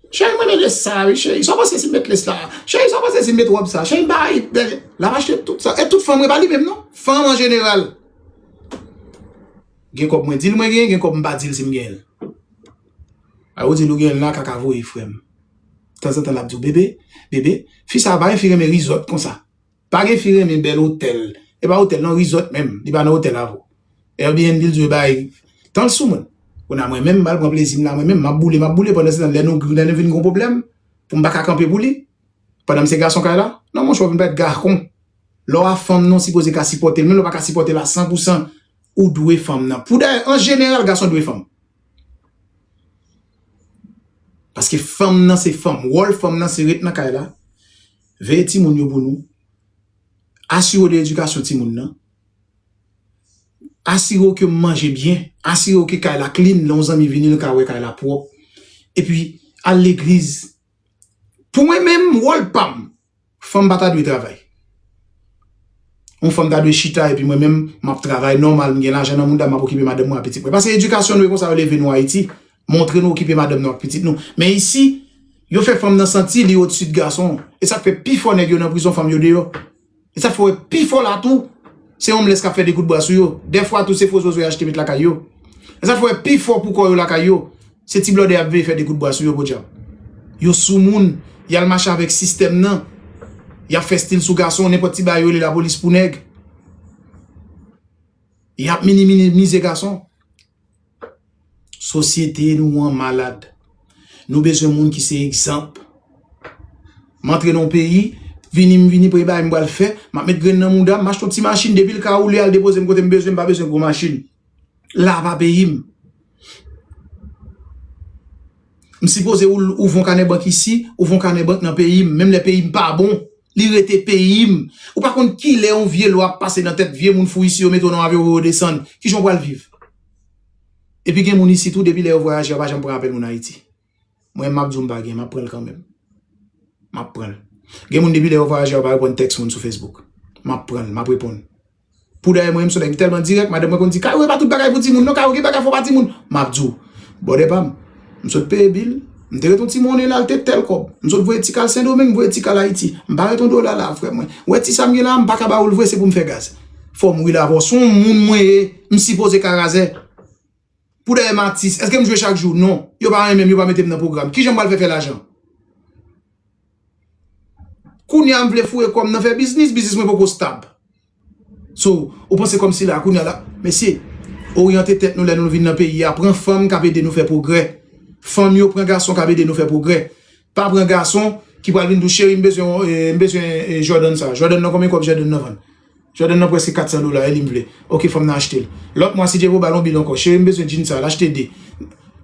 Cheri mwen mete sa wi cheri. Sa w panse si m met lès la? Cheri sa w panse si m met wòb sa? Cheri ba yi bèl. L ap achte tout sa. E tout fanm e pa li menm non. Fanm an jeneral. Gen kòb mwen di l mwen gen, gen kòb m pa di l si m gen. A ou di l ou gen la kaka voye frè m. Tanzantan l ap di w bebe, bebe. Fi sa pa yon fi renmen rizòt konsa. Pa gen fi renmen bèl otèl. E pa otèl non resort menm li pa nan otèl avw. Airbnb l dwe bay tanl sou moun. Kounye a mwen menm mal pran plezim la mwen menm map boule map boule pandan se tan lè nou lè nou vin gon pwoblèm poum paka kanpe pou li pandanm se gason kay la non monchè ou vin parèt gahkon lè w a fanm non sipoze ka sipòte l menm lè w paka sipòte l a san pou san ou dwe fanm nan pou dayè an jeneral gason dwe fanm paske fanm nan se fanm wòl fanm nan se ret nan kay la Veye timoun yo pou nou. Asire w de edikasyon timoun nan. Asire w ke manje byen. Asire w ke kay la klin. Lè yon zanmi vini l ka wè kay la pwòp. Epi al legliz. Pou mwen menm, wòl pa m, fanm pa ta dwe travay. Yon fanm ta dwe chita epi mwen menm m ap travay nòmal, m gen lajan nan mouda m ap okipe madanm mwen ak pitit mwen. Pase edikasyon nou e konsa yo leve nou Ayiti. Montre nou okipe madanm nou ak pitit nou. Men isi, yo fè fanm nan santi li odsi de gason. E sa k fè pifò nèg yo nan prizon fanm yo deyò. E sa k fè w wè pifò la tou, se omlès k ap fè de koutbra sou yo. Dèfwa tou, se fo zozo y achte met lakay yo. E sa k fè w wè pifò pou kò yo lakay yo, se ti blòdè y ap veye fè de koutbra sou yo, podyab. Yo soumoun, y al mache avèk sistèm nan. Y ap fè stil sou gason, nenpòt ti bagay yo rele lapolis pou nèg. Y ap minimize gason. Sosyete nou an malad. Nou bezwen moun ki se egzanp. M antre nan yon peyi, vini m vini premye bagay m pral fè, m ap met grenn nan mouda m, m achte yon ti machin depi l ka woule al depoze m kote m bezwen, m pa bezwen gwo machin. La pa peyi m. M sipoze ouvre yon kanè bank isi, ouvre yon kanè bank nan peyi m, menm lè peyi m pa bon, Li rete peyim. Ou pa konn kilè yon vye lwa ap pase nan tèt vye moun fou isi yo mete w nan avyon voye w desann. Kijan w pral viv? Epi gen moun isi tou depi lè yo vwayaje yo pa janm pran apèl moun Ayiti. Mwen menm m ap di w m pa gen, m ap pran l kanmenm. M ap pran l. Gen moun depi lè yo vwayaje yo pa reponn tèks moun sou Facebook. M ap pran l, m ap reponn. Poudayè mwen menm son nèg m tèlman dirèk madanm mwen konn di Kayo e pa tout bagay pou timoun non Kayo gen bagay fò pa timoun map diw bòdè pam m sot peye bil m te ret yon ti monnen la l te tèl kòb m sot voye ti kal sendomeng m voye ti kal ayiti m pa ret yon dola la frè mwen wè ti sam gen la m paka ba oul vre se poum fè gaz fòm wi la avèw son moun mwen ye m sipoze ka razè. Poudayè m atis, èske m jwe chak jou? Non. Yo pa renmen m, yo pa mete m nan pwogram. Kijan m pral fè fè lajan? Kounye a m vle foure kò m nan fè biznis, biznis mwen poko stab. So, ou panse kòmsi la, kounye a la, mesye, oryante tèt nou lè nou vin nan peyi a, pran fanm k ap ede nou fè pwogrè. Fanm yo pran gason k ap ede nou fè pwogrè. Pa pran gason ki pral vin di w cheri m bezwen m bezwen Jordan sa Jordan nan konbyen kòb Jordan nan vann Jordan nan prèske 400 dola e li m vle ok fòm nan achte l lòt mwa si Dyebo ba l on bil ankò cheri m bezwen djin sa l achte 2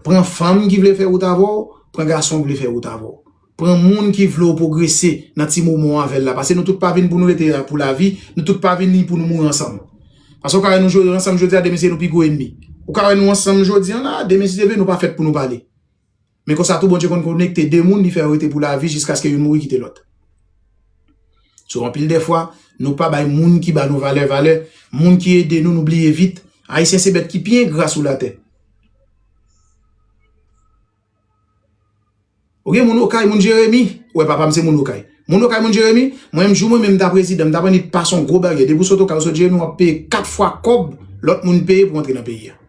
pran fanm ki vle fè wout avè w pran gason k vle fè wout avè w pran moun ki vle w pwogrese nan ti moman w avè l la pase nou tout pa vin pou nou rete pou lavi nou tout pa vini pou nou mouri ansanm pase w ka wè nou jwe ansanm jodi a demen se nou pi gwo enmi ou ka wè nou ansanm jodi an la demen si Dye vle nou pa fèt pou nou pale. Men konsa tou Bondye konn konekte de moun li fè yo rete pou lavi jiskaske youn mouri kite lòt. So anpil de fwa nou pa bay moun ki ba nou valè valè, moun ki ede nou nou bliye vit. Ayisyen se bèt ki pi engra sou latè. Ou gen moun okay, moun Jeremi, ou wè papa m se moun okay. Moun okay, moun Jeremi, mwen menm jou mwen menm ta prezidan, m ta pran ni pas on gwo baryè. Depi w sot okay, w sot Jeremi, w ap peye 4 fwa kòb lòt moun peye pou antre nan peyi a.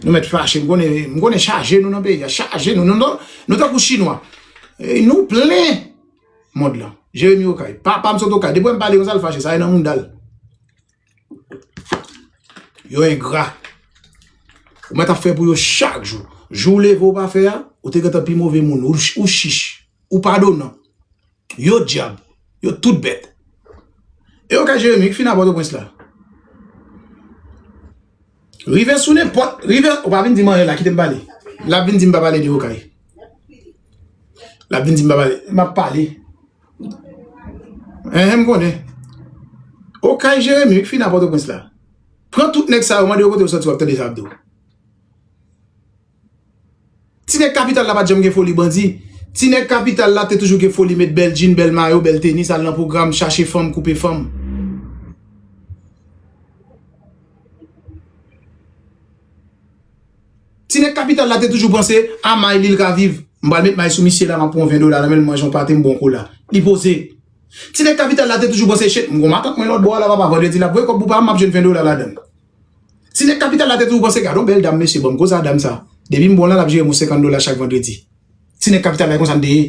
Nou met fache, m konnen, m konnen chaje nou nan peyi a, chaje nou, nou tankou chinwa. Nou plen mond lan. Jeremi okay, papa m sot okay, depi wè m pale konsa l fache, sa e nan mouda l. Yo engra. Ou met ap fè pou yo chak jou. Jou ou leve ou pa fè a, ou te gentan pi move moun, ou chich, ou padonan. Yo dyab, yo tout bèt. E yo ka Jeremi ki fin nan Pòtoprens la. Rive sou nenpòt, rive, ou pa vin di m anyen la, kite m pale. L ap vin di m pa pale de Okay. L ap vin di m pa pale, m ap pale. Enhen m konnen. Okay Jeremi ki fin nan Pòtoprens la. Pran tout nèg sa yo, mande yo kote yo soti w ap tande sa y ap di w. Ti nèg kapital la pa t janm gen foli bandi. Ti nèg kapital la te toujou gen foli met bèl djin, bèl mayo, bèl tenis, al nan pwogram, chache fanm, koupe fanm. Ti nèg kapital la te toujou panse a may li l ka viv. M pral met may sou misye la, m ap pran 20 dola nan men l, m manje yon pate, m bwè yon kola. Li poze. Ti nèg kapital la te toujou panse chet, m gen yon matant mwen lòtbò a la papa, vandredi l ap voye kòb pou pa m, m ap jwenn 20 dola ladan l. Si nèg kapital la te toujou panse gadon bèl dam mesye banm koza dam sa depim bon lan lap jerem yon 50 dola chak vandredi si nèg kapital la e konsa n te ye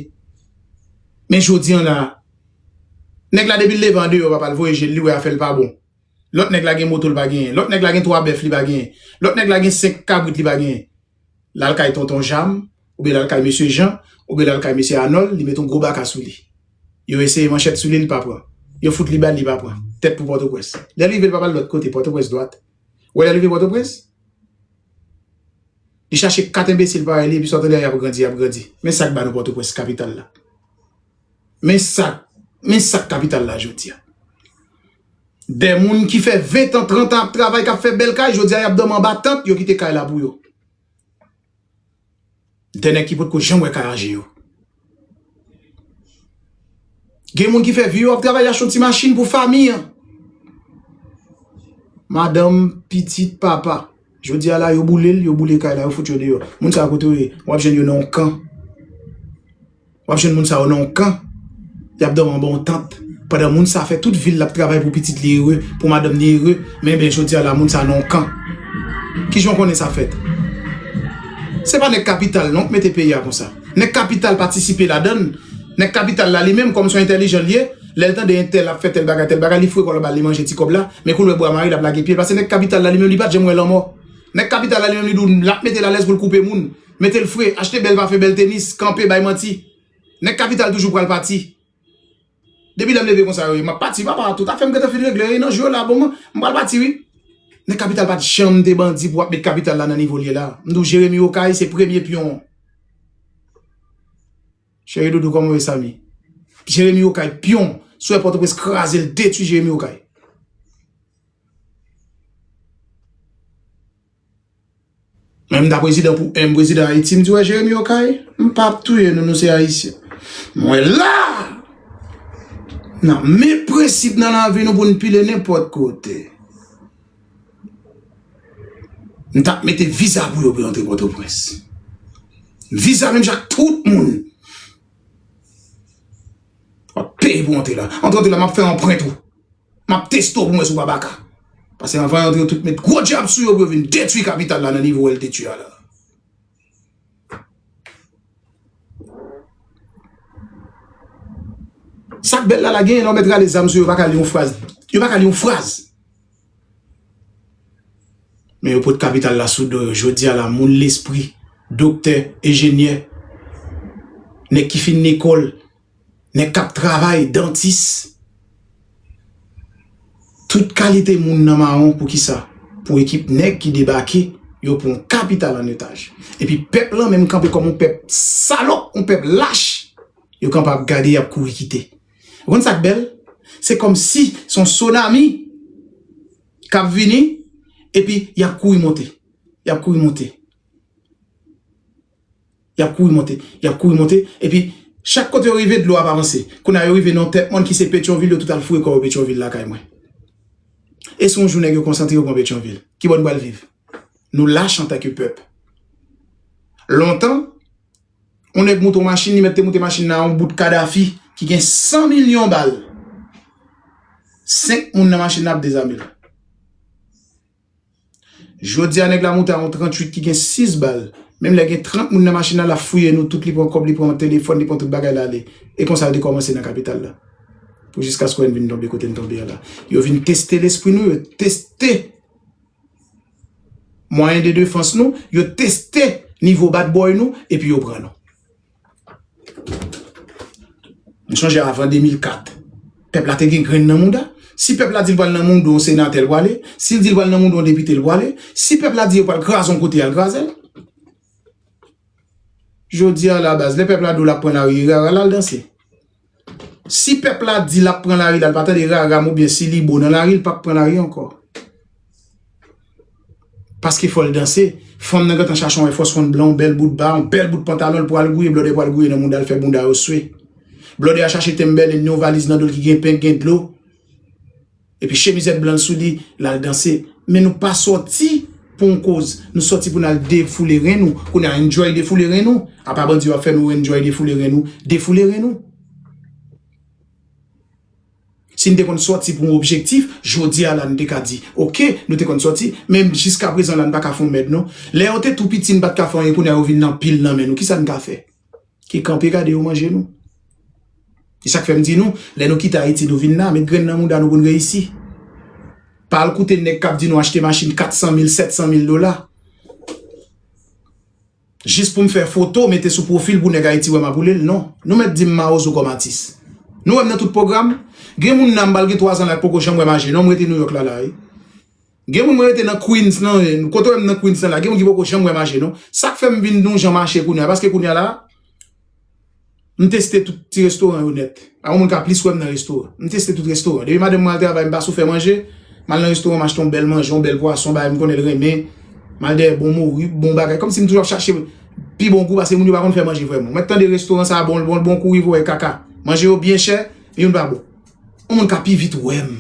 men jodi an la nèg la depil leve andeyò papal voye jel li wè afèl pa bon lòt nèg la gen moto l pa genyen lòt nèg la gen 3 bèf li pa genyen lòt nèg la gen 5 kabrit li pa genyen. l al kay Tonton Jam oubyen l al kay Mesye Jan oubyen l al kay Mesye Anòl, li met yon gwo baka sou li. Yo eseye manchèt sou li, li pa pran. Yo fout li bal, li pa pran. Tèt pou Pòtoprens. Lè l rive, l pa p al lòt kote, Pòtoprens dwat. Ou wè lè l rive Pòtoprens, li chache kat enbesil parèy li epi sa w tande a y ap grandi, y ap grandi. Men sa k ba nou Pòtoprens, kapital la. Men sa Men sak kapital la jodia. Dè moun ki fè 20 an 30 an ap travay kap fè bèl kay jodia yap dòmi anba tant yo kite kay la pou yo. Dè nèg ki potko janm wè kay an je yo. Gen moun ki fè vi yo ap travay yache yon ti machin pou fami an. Madanm pitit papa. Jodi a la yo boulel, yo boule kay la, yo fout yo deyò. Moun sa yo kote yo ye? Wap jwenn yo nan yon kan. Wap jwenn moun sa yo nan yon kan. Yap dòmi anba yon tant. Pandan moun sa fè tout vil lap travay pou pitit li ere, pou madanm li ere, men ben jodi a la moun sa nan yon kan. Kijan w konnen sa fèt? Se pa nèg kapital non k mete peyi a konsa. Nèg kapital patisipe ladann. Nèg kapital la li menm kòm son entèlijan li ye. Lè l tande entèl ap fè tèl bagay tèl bagay li fwe kò l anba li manje ti kòb la men kou l wè bwa mare l ap lage pye l pase nèg kapital la li menm li pa t janm wè lanmò nèg kapital la li menm li di w l ap mete l alèz pou l koupe moun mete l fre achte bèl pafen bèl tenis kanpe bay manti nèg kapital toujou pral pati depi lè m leve konsa yo ye m ap pati papa tout afè m gentan fin regle yo ye nan jou yo la bon m pral pati wi nèg kapital pa t janm te bandi pou w ap met kapital la nan nivo l ye la m di w jeremi okay se premye pyon. Cheri doudou koman yo samy. Jeremi okay pion swè potoprens krazel detwi jeremi okay. Mwen m ta prezidan pou 1 prezidan ayiti m di wè jeremi okay m pap touye nou nou se ayisyen mwen la nan men prensip nan lavi nou pou n pile nenpot kote. M tap mete viza pou yo pou yo antre Pòtoprens. Viza menm jan ak tout moun. Wap peye pou antre la. Antre antre la map fè anprent ou. Map teste ou pou mwen si ou pa baka. Pase anvan yo antre yo tout met gwo djab sou yo pou yo vin detwi kapital la nan nivo el te tye a la. Sak bel la la genyen lè w met rale zam sou yo pa ka li yon fraz yo pa ka li yon fraz men yo pot kapital la sou do yo jodi a la moun lespri doktè enjenyè nèg ki fin lekòl nèg kap travay dantis tout kalite moun nan mawon poukisa pou ekip nèg ki debake yo pran kapital an otaj epi pèp lan menm kanpe kòm yon pèp salòp yon pèp lach yo kanpe ap gade yap kouri kite ou konn sak bèl se kòmsi son sonami kap vini epi yap kouri monte yap kouri monte. Y ap kouri monte, y ap kouri monte, epi chak kote yo rive dlo ap avanse. Kounye a yo rive nan yon tèt mòn ki se Petyonvil, yo tout al foure kò yo Petyonvil lakay mwen. E si yon jou nèg yo konsantre yo pran Petyonvil, kibò nou pral viv? Nou lach antanke pèp. Lontan, yon nèg moute yon machin, li mèt te moute machin nan yon bout Kadafi ki gen 100 milyon bal. Senk moun nan machin nan ap dezame l. Jodia nèg la moute a yon 38 ki gen 6 bal, menm lè gen 30 moun nan machin nan lap fouye nou tout li pran kòb li pran telefòn li pran tout bagay la ale e konsa yo te kòmanse nan kapital la pou jiskaskwen vin tonbe kote n tonbe a la yo vin teste lespri nou yo teste mwayen de defans nou yo teste nivo bat bòy nou epi yo pran nou. M sonje avan 2004, pèp la te gen grenn nan mouda. Si pèp la di l pral nan moudon yon senatè, l prale. Si l di l pral nan moudon yon depite, l prale. Si pèp la di yo pral kraze yon kote, y al kraze l. Jodi a la baz, lè pèp la di w l ap pran lari, y al danse. Si pèp la di lap pran lari la, l pa tande rara m oubyen Silibo nan lari, l pap pran lari ankò. Paske fò l danse, fanm nan gentan chache yon èfòs fon blan, yon bèl boutba, yon bèl bout pantalon l pou al gouye, blòdè pou al gouye nan mounda l fè bounda yo swe. Blòdè a chache tenbèlen ni yon valiz nan do l ki gen pen, ki gen dlo. Epi chemizèt blan l sou li, l al danse. Men nou pa sòti pou yon koz. Nou sòti pou n al defoule ren nou. Kounye a enjoy defoule ren nou. Apa bandi yo ap fè nou enjoy defoule ren nou. Defoule ren nou. Si n te konn sòti pou yon objektif, jodi a la n te ka di ok, nou te konn sòti. Men jiska prezan la n pa ka fè yon mèd non. Lè yo te tou piti n pa t ka fè anyen kounye a yo vin anpil nan men nou. Kisa n ka fè? ki kanpe gade yo manje nou. E sak fèm di nou, lè nou kite Ayiti nou vin la, met grenn nan mouda nou pou nou reyisi. Pa al koute nèg kap di nou achte machin 400 mil, 700 mil dola. Jis poum fè foto mete sou pwofil pou nèg Ayiti wèm ap woulel, non. Nou mèt dim mawozo kòm atis. Nou wèm nan tout pwogram? Gen moun la mbal gen 3 zan la ki poko janm wèm aje non, mrete Nouyòk la la wi. Gen moun mwen rete nan Queens nan, kote wèm nan Queens nan la, gen moun ki poko janm wè mache non. Sak fèm vin nou jan mache kounya paske kounya la m teste tout ti restoran yo nèt. Pa gen moun ka plis wèm nan restoran. M teste tout restoran. Depi madanm mwen al travay m pa sou fè manje, mal nan restoran m achte yon bèl manje, yon bèl pwason bagay m konnen l renmen, mal dèyè bon mori, bon bagay. Kòmsi m toujou ap chache pi bon gou paske moun yo pa konn fè manje vrèman. Mwen tande restoran sa bon l bon l bon kouri voye kaka. Manje yo byen chè, youn pa bon. Yon moun ka pi vit wèm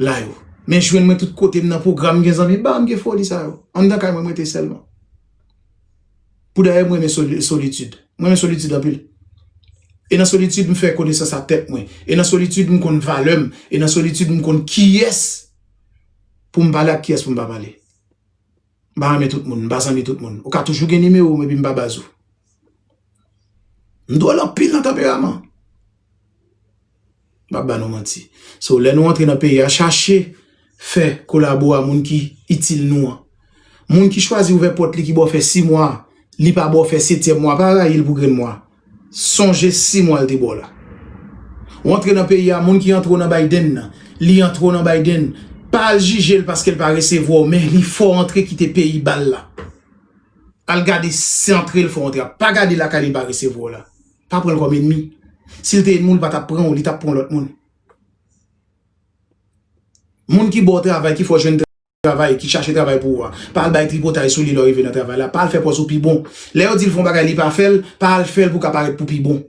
la yo men jwenn mwen tout kote m nan pwogram m gen zanmi ba m gen foli sa yo anndan kay mwen m rete sèl mwen pou dayè m renmen solitid m renmen solitid anpil e nan solitid m fè konesans a tèt mwen e nan solitid m konn valè m e nan solitid m konn kiyès pou m pale ak kiyès pou m pa pale. M pa renmen tout moun, m pa zanmi tout moun. Ou ka toujou gen nimewo m epi m pa baz ou. M dwòl anpil nan tanperaman. M pa ba nou manti. So lè nou antre nan peyi a chache fè kolabo a moun ki itil nou an. Moun ki chwazi ouvè pòt li ki ba w fè 6 mwa, li pa ba w fè setyèm mwa pa rayi l pou grenn mwa. Sonje 6 mwa l te ba w la. Ou antre nan peyi a moun ki antre w nan Biden nan li antre w nan Biden pa al jije l paske l pa resevwa w men li fè w antre kite peyi ba l la al gade si antre l fè w antre a pa gade lakay li pa resevwa w la pa pran l kòm enmi si l te enmi w li pa tap pran w li tap pran lòt moun moun ki ba w travay ki fè w jwenn travay, ki chache travay pou ou a, pa al bay tripotay sou li lè w rive nan travay la, pa al fè pòz ou pi bon. Lè yo di l fè yon bagay li pa fè l, pa al fè l pou w ka parèt pou pi bon.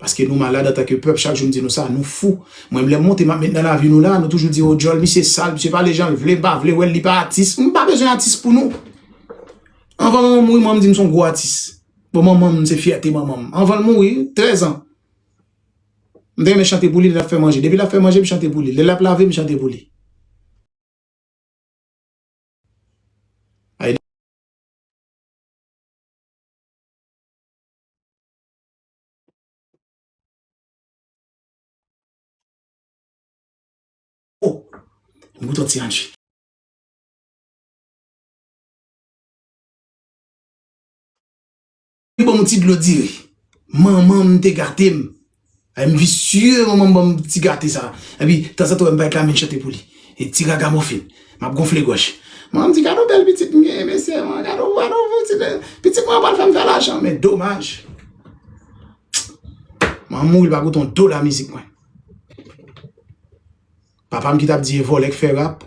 Paske nou malad antanke pèp, chak jou m di nou sa, nou fou. Mwen lè m monte m ap met nan lavi nou la, nou toujou di o djòl misye sal, misye pale jan l vle, m pa vle wè l, li pa atis. M pa bezwen atis pou nou. Anvan manman m mouri, manman m di m son gwo atis. Bon manman m se fyète manman m. Anvan l mouri, 13 an. M ta renmen chante pou li lè l ap fè manje. Depi l ap fè manje, m chante pou li. Lè l ap lave, m chante pou li. Banm ti dlo diri. Manman m te gate m. Ay m visye manman m banm ti gate sa. Epi tanzantan wè m bay Carmine chante pou li. E ti ragamofin. M ap gonfle gòj. Manman m di gade yon bèl pitit m genyen mesye. Gade yon pitit m. Pitit mwen an pral fè m fè lajan. Men domaj. Manman m mouri l pa goute yon dola mizik mwen. Papam ki tap di e vòlè k fè rap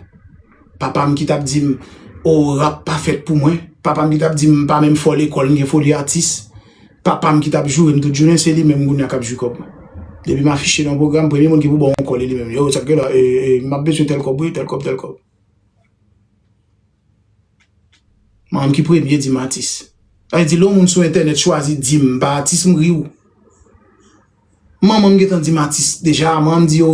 Papam ki tap dim oo rap pa fèt pou mwen Papam ki tap dim m pa menm fò lekòl m gen foli atis Papam ki tap jourem tout jounen se li menm kounya kap jwi kòb mwen Depi m afiche nan pwogram premye moun ki pou baw on kòl e li menm Yo sak gen la ee ee map bezwen tèl kòb wi tèl kòb tèl kòb. Manm ki premye di m atis. Sa vle di lè yon moun sou entènèt chwazi di m pa atis m ri w. Manman m gentan di m atis deja. Manman m di yo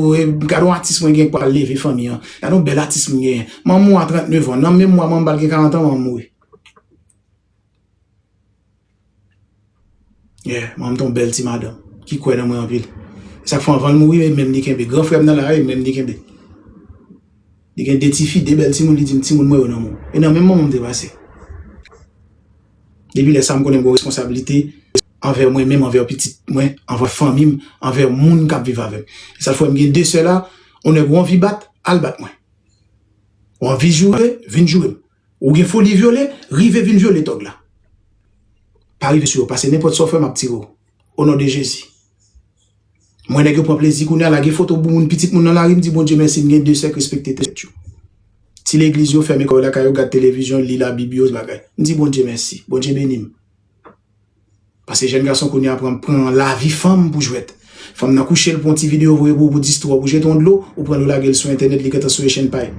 gade yon atis mwen gen k pral leve fanmi an. Gade yon bèl atis m genyen. Manman m a 39 an. Nan menm mwa manman m pral gen 40 an manman m mouri. Yeah, manm t yon bèl ti madanm ki kwè nan mwen anpil. E sa k fè anvan l mouri menm li kenbe. Gran frè m nan la a e menm li kenbe. Li gen 2 ti fi, 2 bèl timoun, li di m timoun mwen yo nan men w. E nan men manman m te pase. Depi lè sa m konnen m gen yon responsablite anvè mwen menm, anvè pitit mwen, anvè fanmi m, anvè moun k ap viv avè m. E sa k fè m gen 2 sè la, yon nèg ou anvi bat, al bat mwen. Ou anvi joure, vin joure m. Ou gen foli vyole, rive vin vyole tòg la. Pa rive sou yo pase nenpòt sa w fè map tire w o non de Jezi. M wè nèg yo pran plezi kounye a lage foto bouboun pitit moun nan lari m di Bondye mèsi m gen 2 sè k respekte tèt yo. Ti legliz yo fèmen kò yo lakay yo gad televizyon, li labib yo, bagay. M di Bondye mèsi. Bondye beni m. Pase jèn gason kounye a pran pran lavi fanm pou jwèt. Fanm nan kouche l pou yon ti videyo voye pou ou pou distre w pou jete yon dlo, ou pran l ou lage l sou entènèt li gentan souye chenn pay.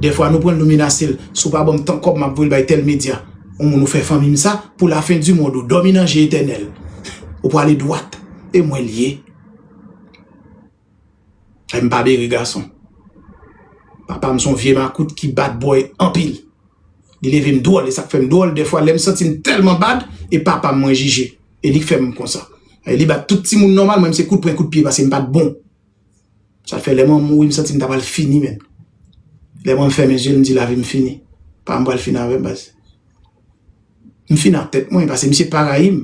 Dèfwa nou pran l nou menase l, si w pa ban m tan kòb m ap voye l bay tèl medya. Yon moun ou fè fanmi m sa, pou lafendimond ou dòmi nan je etènèl. Ou prale dwat, e mwen l ye. Em pa bere gason. Papa m son vye makout ki bad boy anpil. Li leve m dwòl e sak fem dwòl defwa lem santi m telman bad e papa m mwen jije e li k fem konsa. E li bat tout timoun nòmal mwen m se kout pwen kout pye paske m pat bon. Sa fè lè mwen mouri m santi m ta pral fini menn. Lè mwen femen zyem m di lavi m fini. Papa m pral fini avem baz. M fini ak tèt mwen paske misye pa rayi m.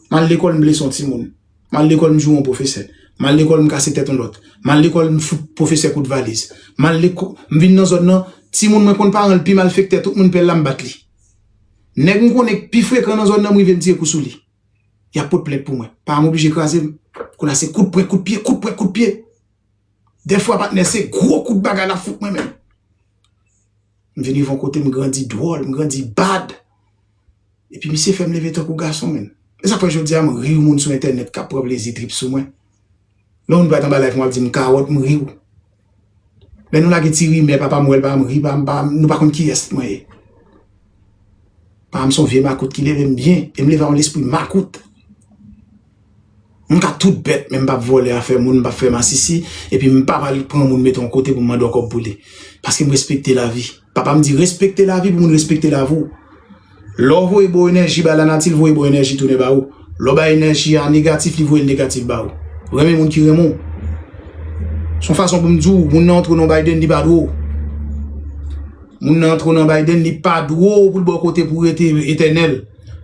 M al lekòl m blese yon timoun. M al lekòl m joure yon pwofesè. M al lekòl m kase tèt yon lòt. M al lekòl m fout pwofesè kout valiz. M al lekò, m vin nan zòn nan, timoun mwen konn paran l pi malfektè tout moun pè la m bat li. Nèg m konnen k pi frekan nan zòn nan m rive m tire kou sou li. Y ap pot plent pou mwen. Paran m oblije kraze m. Kounye a se kout pwen kout pye, kout pwen kout pye. Dèfwa patnè se gwo kout bagay l ap fout mwen menm. M vin rive yon kote m grandi dwòl, m grandi bad. Epi misye fèm leve tankou gason menn. Esak fè jodia m rir moun sou entènèt kap pran plezi trip sou mwen. Lè yon moun pral anba live mwen ap dim kawòt m riw. Lè nou lage ti rimè papa m wèl papa m ri papa m papa m nou pa konn kiyès mwen ye. Papa m son vye makout ki levem byen e m leve a yon lespri makout. M ka tout bèt men m pap vòlè afè moun, m pap fè masisi epi m pap al pran moun met on kote pou m mande w kòb pou li. Paske m respekte lavi. Papa m di respekte lavi pou moun respekte lavi w. Lè w voye bon enèji bay lanati l voye bon enèji tounen ba ou. Lè w bay enèji a negatif li voye l negatif ba ou. Renmen moun ki renmen w. S on fason pou m di w moun nan antre w nan yon baydenn li pa dwe w. Moun nan antre w nan yon baydenn li pa dwe w pou l ba w kote pou w rete etènèl.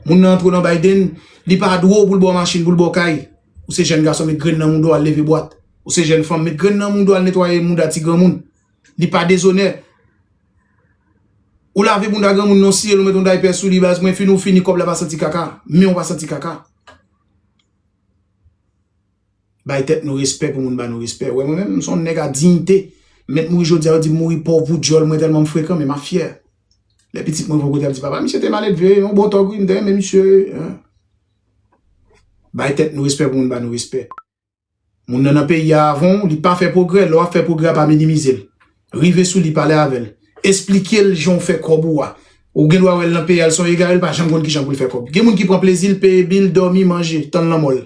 Moun nan antre w nan yon baydenn. Li pa dwe w pou l ba w machin, pou l ba w kay. Ou se jèn gason, met grenn nan mouda w al leve bwat. Ou se jèn fanm, met grenn nan mouda w al netwaye mouda ti granmoun. Li pa dezonè ou lave bounda granmoun non, siye l ou met yon daypè sou li baz mwen, fini w fini kòb la pa santi kaka, men w pa santi kaka. Bay tèt nou respè pou moun ba nou respè. Ou wè mwen menm, m se yon nèg a diyite. M mèt mouri jodi a, yo di m mouri pòv pou dyòl mwen tèlman m frekan men m ap fyè. Lè pitit mwen vwe kote ap di papa misye te maledve, yon bon tòg wi m te renmen misye. Bay tèt nou respè pou moun ba nou respè. Moun nan nan peyi a avan w, li pa fè pwogrè, lè w ap fè pwogrè a pa minimize l. Rive sou li pale avè l, esplike l jan w fè kòb ou a. Ou gen dwa wè l nan peyi a l se yon egare l pa janm konn kijan pou l fè kòb. Gen moun ki pran plezi l, peye bil, dòmi, manje, tann lanmò l.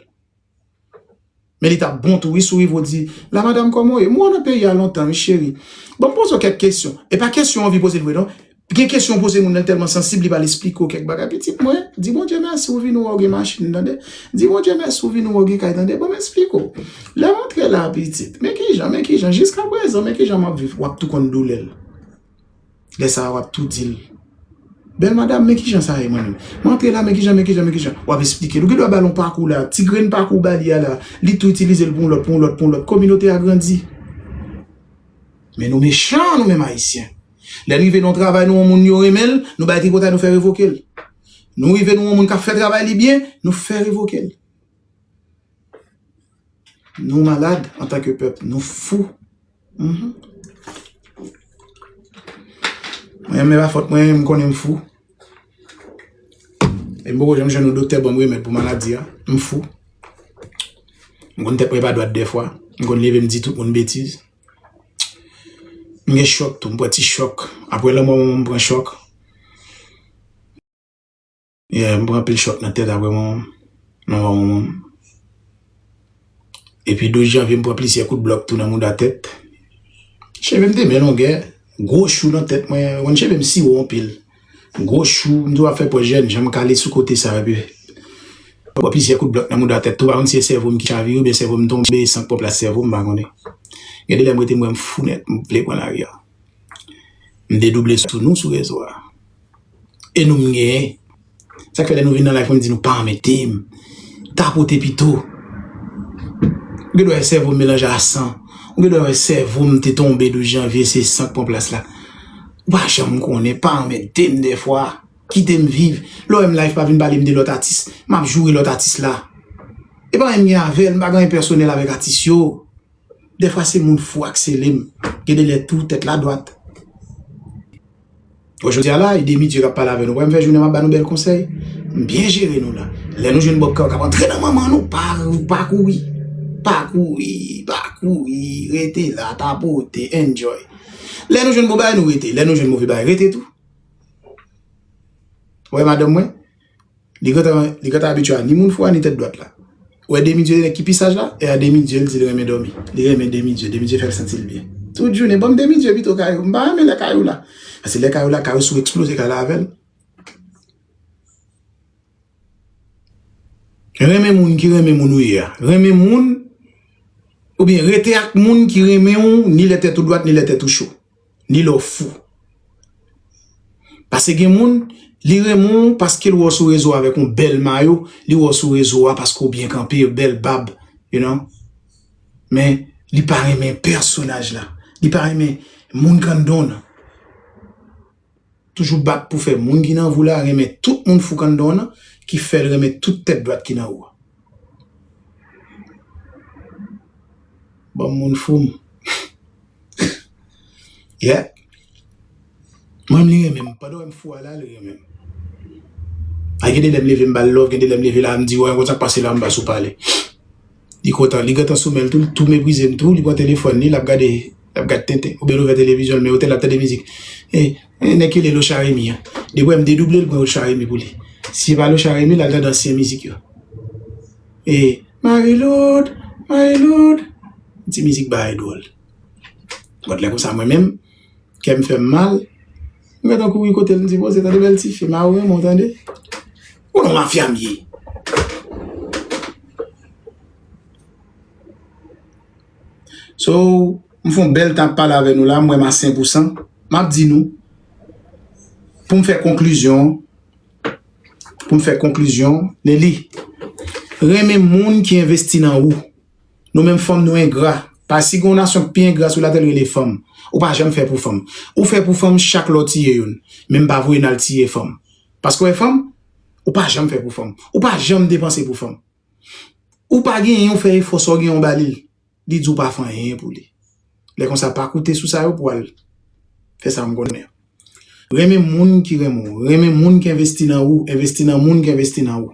Men li tap bon tou wi sou ivo di la madam koman ou ye m wè w nan peyi a lontan wi cheri bon m poze w kèk kesyon e pa kesyon w anvi poze l vre non gen kesyon w poze moun nan li tèlman sansib li pral esplike w kèk bagay pitit mwen di Bondye mèsi ou vini wè w gen machin tande di Bondye mèsi ou vini wè w gen kay tande bon m esplike w lè m antre la pitit men kijan men kijan jiskaprezan men kijan m ap viv w ap tou konn doulè l. Lè sa a w ap tou di l, Bèl madam, men ki jan sa ye mwen menm? M antre la, men ki jan, men ki jan, men ki jan? W ap esplike l. Ou gen dwa ba l yon pakou la, ti grenn pakou w ba li a la, li tou itilize l pou yon lòt, pou yon lòt, pou yon lòt. Kominote a grandi. Men nou mechan nou menm Ayisyen. Lè n rive nan yon travay nou wè yon moun yo renmen l, nou bay tripotay nou fè revoke l. Nou rive nou wè yon moun k ap fè travay li byen, nou fè revoke l. Nou malad antanke pèp, nou fou. Mwen menm e pa fòt mwen, m konnen m fou. E m poko janm jwenn yon doktè banm remèd pou maladi a. M fou. M konn tèt mwen pa dwat dèfwa. M konn leve m di tout moun betiz. M gen chòk tou, m pran ti chòk. Aprè lanmò manman m, m pran chòk. Yeah, m pran anpil chòk nan tèt apre manman m, nan mò manman m. Epi 12 janvye m pran plizyè kout blòk tou nan mouda tèt. Cheve m te byen longè, gwo chou nan tèt mwen, ou konn cheve m si wo anpil. Gwo chou, m toujou ap fè pòz jèn jan, m kale sou kote sa epi m pran plizyè kout blòk nan mouda tèt tou, m pa konn si e sèvo m ki chavire oubyen sèvo m tonbe san k pòp la sèvo m, m pa konnen. Gen de lè m rete m wè m fou nèt, m vle pran lari a. M dedouble sou nou sou rezo a E nou m genyen Sa k fè lè nou vin nan live mwen m di nou pa anmède m Tapote pito Ou gen dwa wè sèvo m melanje a san Ou gen dwa wè sèvo m te tonbe 12 janvye se san k pran plas la Ou pa janm konnen Pa anmède m dèfwa Kite m viv Lè w wè m live pa vin pale m de lòt atis M ap joure lòt atis la E pa anyen m gen avè l M pa gen anyen pèsonèl avèk atis yo Dèfwa se moun fou ak selem gen de lè tou tèt la dwat. Bon jodi a la e demi Dye kap pale avè nou wè m fè jounen map ba nou bèl konsèy m byen jere nou la lè nou jwenn bob kap antre nan manman nou pa pa kouri pa kouri pa kouri rete la tapote enjoy lè nou jwenn bon bagay nou rete lè nou jwenn move bagay rete tou wè madanm mwen. Li gentan li gentan abitye a ni moun fou a ni tèt dwat la. Ou wè Demi Dieu nèg ki pi saj la? E a Demi Dieu l di l renmen dòmi. Li renmen Demi Dieu, Demi Dieu fè l santi l byen. Tout jounen ban m Demi Dieu pito Kayou. M pa renmen lè Kayou la. Pase lè Kayou la, Kayou sou eksploze kay la avè l. Renmen moun ki renmen moun ou ye a. Renmen moun oubyen rete ak moun ki renmen ou ni lè tèt ou dwat ni lè tèt ou cho. ni lè w fou. Pase gen moun, li renmen w paske l wè w sou rezo avèk yon bèl mayo, li wè w sou rezo a paske w byen kanpe, bèl bab, you know, men li pa renmen pèsonaj la, li pa renmen moun kanndon nan. toujou bat pou fè moun ki nan vou la renmen tout moun fou kanndon nan ki fèl renmen tout tèt dwat ki nan ou a. Banm moun fou m. Yeah. Mwen menm li renmen m. Pandan w wè m fou a la, li renmen m. Gen de lè m leve m ba l love, gen de lè m leve la m di wè, konn sa k pase la m pa sou pale. Li kontan, li gentan sou men l tou, li tou meprize m tou, li pran telefòn li, l ap gade, l ap gad tenten, oubyen l ouvè televizyon l men otè l ap tande mizik. E, e nèg ki rele Locha Remy an. Li wè m dedouble l pran Locha Remy pou li. Si se pa Locha Remy l al tande ansyen mizik yo. E, Marie-Loude, Marie-Loude. Ti mizik bagay dwòl. Gòt lè konsa mwen menm, kè m fè m mal, m gentan kouri kote l m di, bon se tande bèl tifi, m a ou renmen w tande. Ou nan mafia m ye. So, m fon bel tan pale ave nou la, m wè m a 5 ou 100. M ap di nou, pou m fè konklizyon, pou m fè konklizyon, Nelly, renmen moun ki envesti nan ou. Nou menm fanm nou engra. Pa si gen yon nasyon pi engra sou latè l rele fanm. Ou pa janm fè pou fanm. Ou fè pou fanm chak lè w tiye youn. Men m pa voye n al tiye fanm. Paske w e fanm, ou pa janm fè pou fanm. Ou pa janm depanse pou fanm. Ou pa genyen ou fè efò sa w genyen ou ba li l, li di w pa fè anyen pou li. Lè konsa pa koute sou sa yo pou al fè sa m konnen an. Renmen moun ki renmen w. Renmen moun ki envesti nan ou. Envesti nan moun ki envesti nan ou.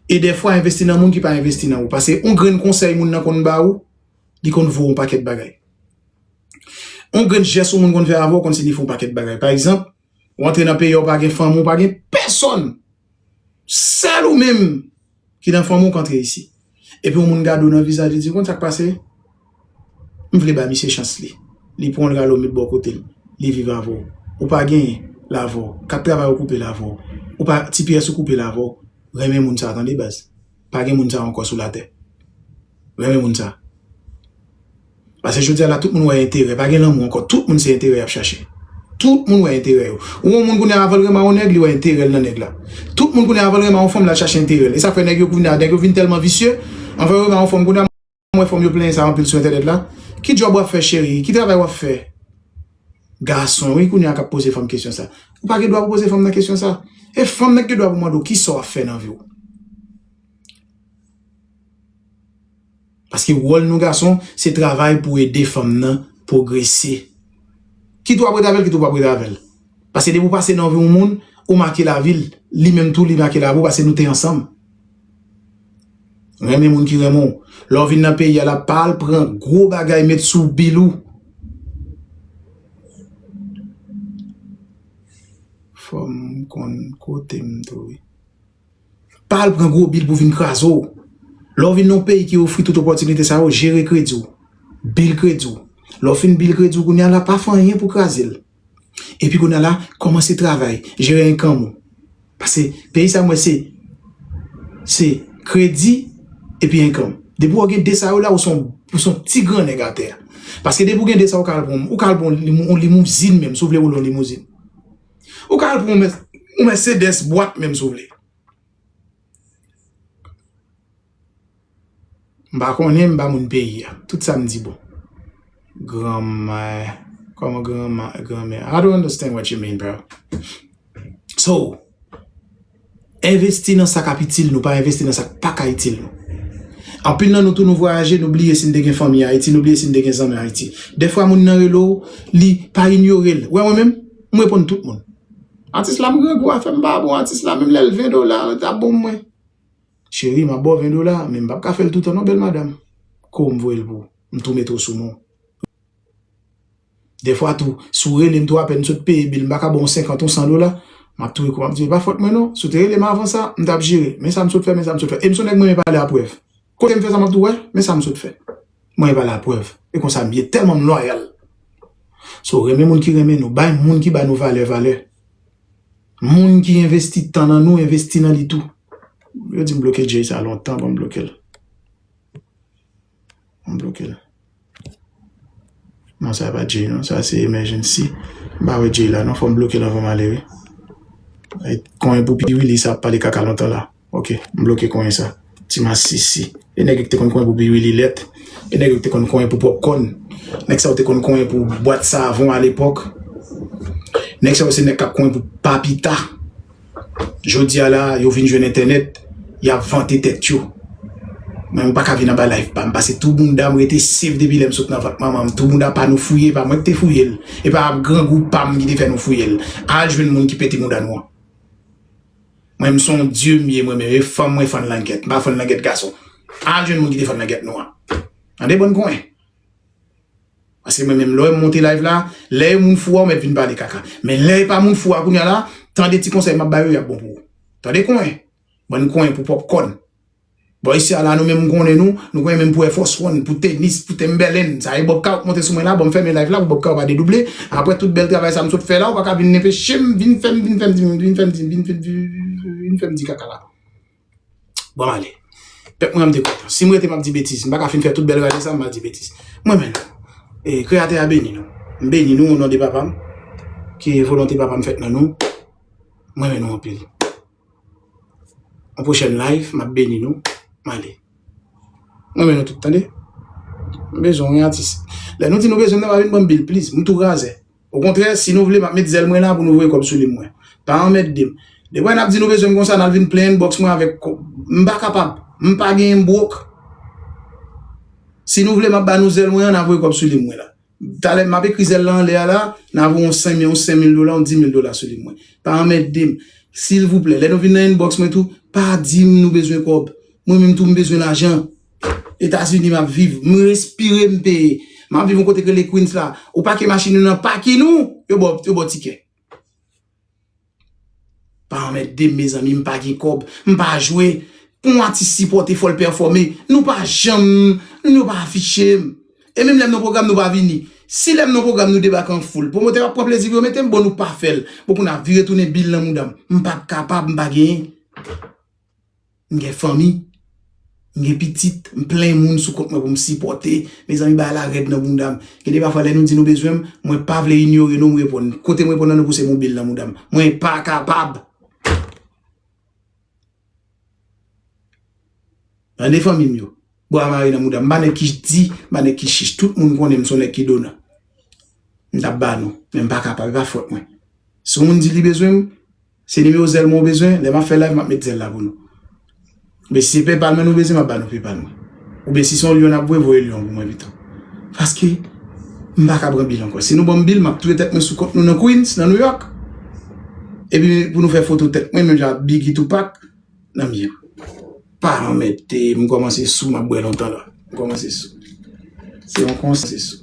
E dèfwa envesti nan moun ki pa envesti nan ou. Pase yon grenn konsèy moun nan konn ba ou, li konn vo yon pakèt bagay. Yon grenn jès yon moun konn fè avè w konn siyifi yon pakèt bagay. Pa egzanp, Ou antre nan peyi a ou pa gen fanmi ou pa gen pèsòn. Sèl ou menm ki nan fanmi ou k antre isi. Epi yon moun gade ou nan vizaj li di ou konn sa k pase? M vle bay misye chans li. Li pran w l rale w met bò kote l. Li viv avè w. Ou pa genyen l avè w. Kat travay ou koupe l avè w. Ou pa ti pyès ou koupe l avè w. Renmen moun sa tande baz. pa gen moun sa ankò sou latè. M renmen moun sa. Pase jodi a la tout moun wè enterè. Pa gen lanmou ankò. Tout moun se enterè y ap chache. Tout moun wè enterè yo. Ou wè yon moun kounye a avan l renmen yon nèg li wè enterè l nan nèg la. Tout moun kounye a avan l renmen yon fanm l al chache enterè l. E sa fè nèg yo kounye a nèg yo vin tèlman visye. Anvan yo renmen yon fanm kounye a. Mwen wè fanm yo plenyen sa anpil sou entènèt la. Ki djòb wap fè cheri? Ki travay wap fè? Gason wi kounye a kap poze fanm kesyon sa. Ou pa gen dwa pou poze fanm nan kesyon sa. E fanm nan ki gen dwa pou mande w kisa w ap fè nan vi w. Paske wòl nou gason se travay pou ede fanm nan pwogrese. Kit wap ret avèl kit ou pap ret avèl. Paske depi ou pase nan vi yon moun, ou make lavi l, li menm tou li make lavi w paske nou te ansanm. Renmen moun ki renmen w. Lè w vin nan peyi a la pa al pran gwo bagay met sou bil ou. Fòm konn kote m tou wi. Pa al pran gwo bil pou vin kraze w. Lè w vin nan yon peyi ki ofri tout opòtinite sa yo, jere kredi w. Bil kredi w. Lè w fin bil kredi w kounya la pa fè anyen pou kraze l. Epi kounye a la, kòmanse travay, jere enkanm ou. Pase peyi sa mwen se, se kredi epi enkanm. Depi ou gen 2 sa yo la, ou son, ou son ti gran nèg atè. Pase depi ou gen 2 sa yo, ou ka al pran, ou ka al pran yon limouzin menm, si ou vle woule yon limouzin. Ou ka al pran yon mèsedès bwat menm si ou vle. M pa konnen m pa moun peyi a. Tout sa m di bon. Granma Koman granma, granmè I don't understand what you mean bro So Envesti nan sa k ap itil nou pa envesti nan sa k pa ka itil nou Anpil nan nou tou nou vwayaje nou bliye si n te gen fanmi Ayiti nou bliye si n te gen zanmi Ayiti Dèfwa moun nan rele w li pa inyore l Wè mwen menm m reponn tout moun Atis la m grangou afè m pa bon Atis la menm lè l 20 dola l ta bon mwen Cheri map baw 20 dola men m pap ka fèl toutan non bèl madam Kou m voyel pou m tou mete w sou non Dèfwa tou si w relem tou apèn m sot peye bil m paka baw 50 ou 100 dola Map tou ekou map di e pa fòt mwen non Si w te relem avan sa m tap jere Men sa m sot fè men sa m sot fè E m son nèg mwen renmen pale a prèv Kote m fè sa map di w wè men sa m sot fè Mwen renmen pale a prèv E konsa m ye tèlman m lwayal So renmen moun ki renmen nou Bay moun ki ba nou valè valè. Moun ki envesti tan nan nou envesti nan li tou. Yo dim bloke Jay sa lontan banm blokel. Banm blokel. Non sa pa Jay non sa se emergency. Mpa wè Jay la non fòm blokel anvan male wi. Konyen pou pi willy sa ap pale kaka lontan la. Ok m bloke konyen sa. Ti masisi. E nèg yo ki te konn konyen pou biriwililèt. E nèg yo ki te konn konyen pou pòpkòn. Nèg sa yo te konn konyen pou bwat savon alepòk. Nèg sa yo se nèg k ap konyen pou pa pi ta. Jodi a la, yo vin jwenn entènèt, y ap vante tèt yo. Mwen m pa ka vin anba layif pa m pase tou bounda m rete sef depi lè m sot nan vant manman m. Tou bounda pa nou fouye, e pa mwen ki te fouye l. E pa grangou pa m ki te fè nou fouye l. Al jwenn moun ki pete mouda nou an. Mwen m son dieu m ye mwen menm e fanm mwen fann langèt m pa fann langèt gason al jwenn moun ki te fann langèt nwa tande bon kwen paske mwen menm lè w monte live la lè e moun fou a ou mèt vin pale kaka men lè e pa moun fou a kounya la tande ti konsèy m ap bay yo y ap bon pou ou tande kwen bon kwen pou pòpkòn. Boy sa la nou menm m konnen nou, nou konnen menm pou Air Force One, pou tenis, pou Timberland, sa e Bob Kao k monte sou mwen la, banm fèmen live la pou Bob Kao pa dedouble, aprè tout bèl travay sa m sot fè la ou paka vin nenpechem vin fèm vin fèm di vin fèm di vin fèm di kaka la banm ale pèp mwen an m te kontan si m rete m ap di betiz m paka fin fè tout bèl rale sa m pa di betiz mwen menm e kreyatè a beni nou m beni nou o non de papa m ke volonte papa m fèt nan nou mwen menm nou anpil. Yon pwochèn live map beni nou m ale. M renmen nou tout tande. M bezwen yon atis. Lè nou di nou bezwen m nan pa vin banm bil pliz. M tou razè. Okontrè si nou vle map met zèl mwen la pou nou voye kòb sou li mwen. Pa anmèkde m. Depre nap di nou bezwen m konsa nal vin plen inbox mwen avèk kòb. M pa kapab. M pa genyen m broke. Si nou vle map ba nou zèl mwen an na voye kòb sou li mwen la. Talè map ekri zèl lan anlè a la, na voye yon 5 yon 5000 dola, yon 10000 dola sou li mwen. Pa anmèdem. Silvouplè, lè nou vin nan inbox mwen tou, pa dim nou bezwen kòb. Mwen menm tou m bezwen lajan. Etazini map viv. M respire m peye. Map viv yon kote ki rele Queens la. Ou pake machin ou nan pakin ou, yo baw yo baw tikè. Pa anmèdem mezanmi m pa gen kòb m pa jwe pou yon atis sipòte fòl pèfòme nou pa janm nou nou pa afiche m e menm lèm nan pwogram nou pa vini si lèm nan pwogram nou debake an foul pwomotè yo ap pran plezi pou yo mete m bon nou pa fèl bon pou n ap vire tounen bil nan mouda m m pap kapab m pa gen M gen fanmi, m gen pitit, m plen moun sou kont mwen pou m sipòte. Mezanmi bagay la rèd nan bounda m. Gen de pafwa lè nou di nou bezwen m, mwen pa vle inyore nou, m reponn. Kote m reponn nan nou pou se mobil nan mouda m. Mwen pa kapab! Tande fanmi m yo. Bwa mare nan mouda m. M pa nèg ki di, m pa nèg ki chich. Tout moun konnen m son nèg ki donan. M t ap ba nou, men m pa kapab, e pa fòt mwen. Si yon moun di li bezwen m, Se nimewo zèl mwen ou bezwen? Lè map fè live map met zèl la pou nou. Oubyen si se paypal mwen nou bezwen map ba nou paypal mwen. Oubyen si se yon lyon nap voye voye lyon pou mwen pito. Paske m paka pran bil ankò. Si nou banm bil map touye tèt mwen sou kont nou nan Queens, nan Nouyòk. Epi pou nou fè foto tèt mwen menm jan ak Biggie Tupac nan mye. Pa anmède m kòmanse sou map bwè lontan la m kòmanse sou se yon konsèy sou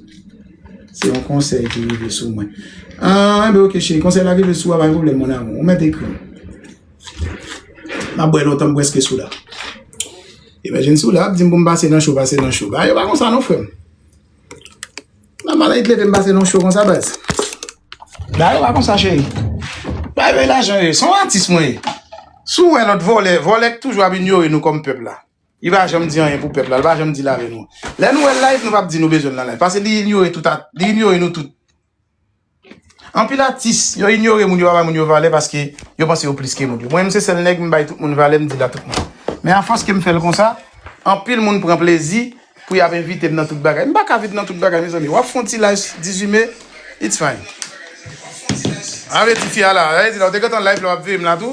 se yon konsèy ki rive sou mwen ah enben ok cheri konsèy la rive sou a pa gen pwoblèm mon amour ou mèt ekri map bwè lontan m prèske sou la emergency ou la ap di m pou m pase nan cho pase nan cho ah yo pa konsa non frè m. Nan malan it leve m pase nan cho konsa baz. Bagay yo pa konsa cheri. Bagay yo e lajan yo ye. Se yon atis mwen ye. Si w wè lòt vòlè, vòlè ki toujou ap inyore nou kòm pèp la. Li pa janm di anyen pou pèp la. Li pa janm dil avè nou. Lè nou wè l live nou pap di nou bezwen l nan live. Pase li inyore tout a, li inyore nou tout. Anpil atis yo inyore moun yo pa bay moun yo valè paske yo panse yo plis ke moun yo. Mwen menm se sèl nèg m bay tout moun valè m di l a tout moun. Men afòs ke m fè l konsa, anpil moun pran plezi pou y ap envite m nan tout bagay. M pa ka vin nan tout bagay mezanmi. W ap fè yon ti live 18 me, it's fine. A vle tifi a la, e di la ou te gentan live la w ap veye m la tou?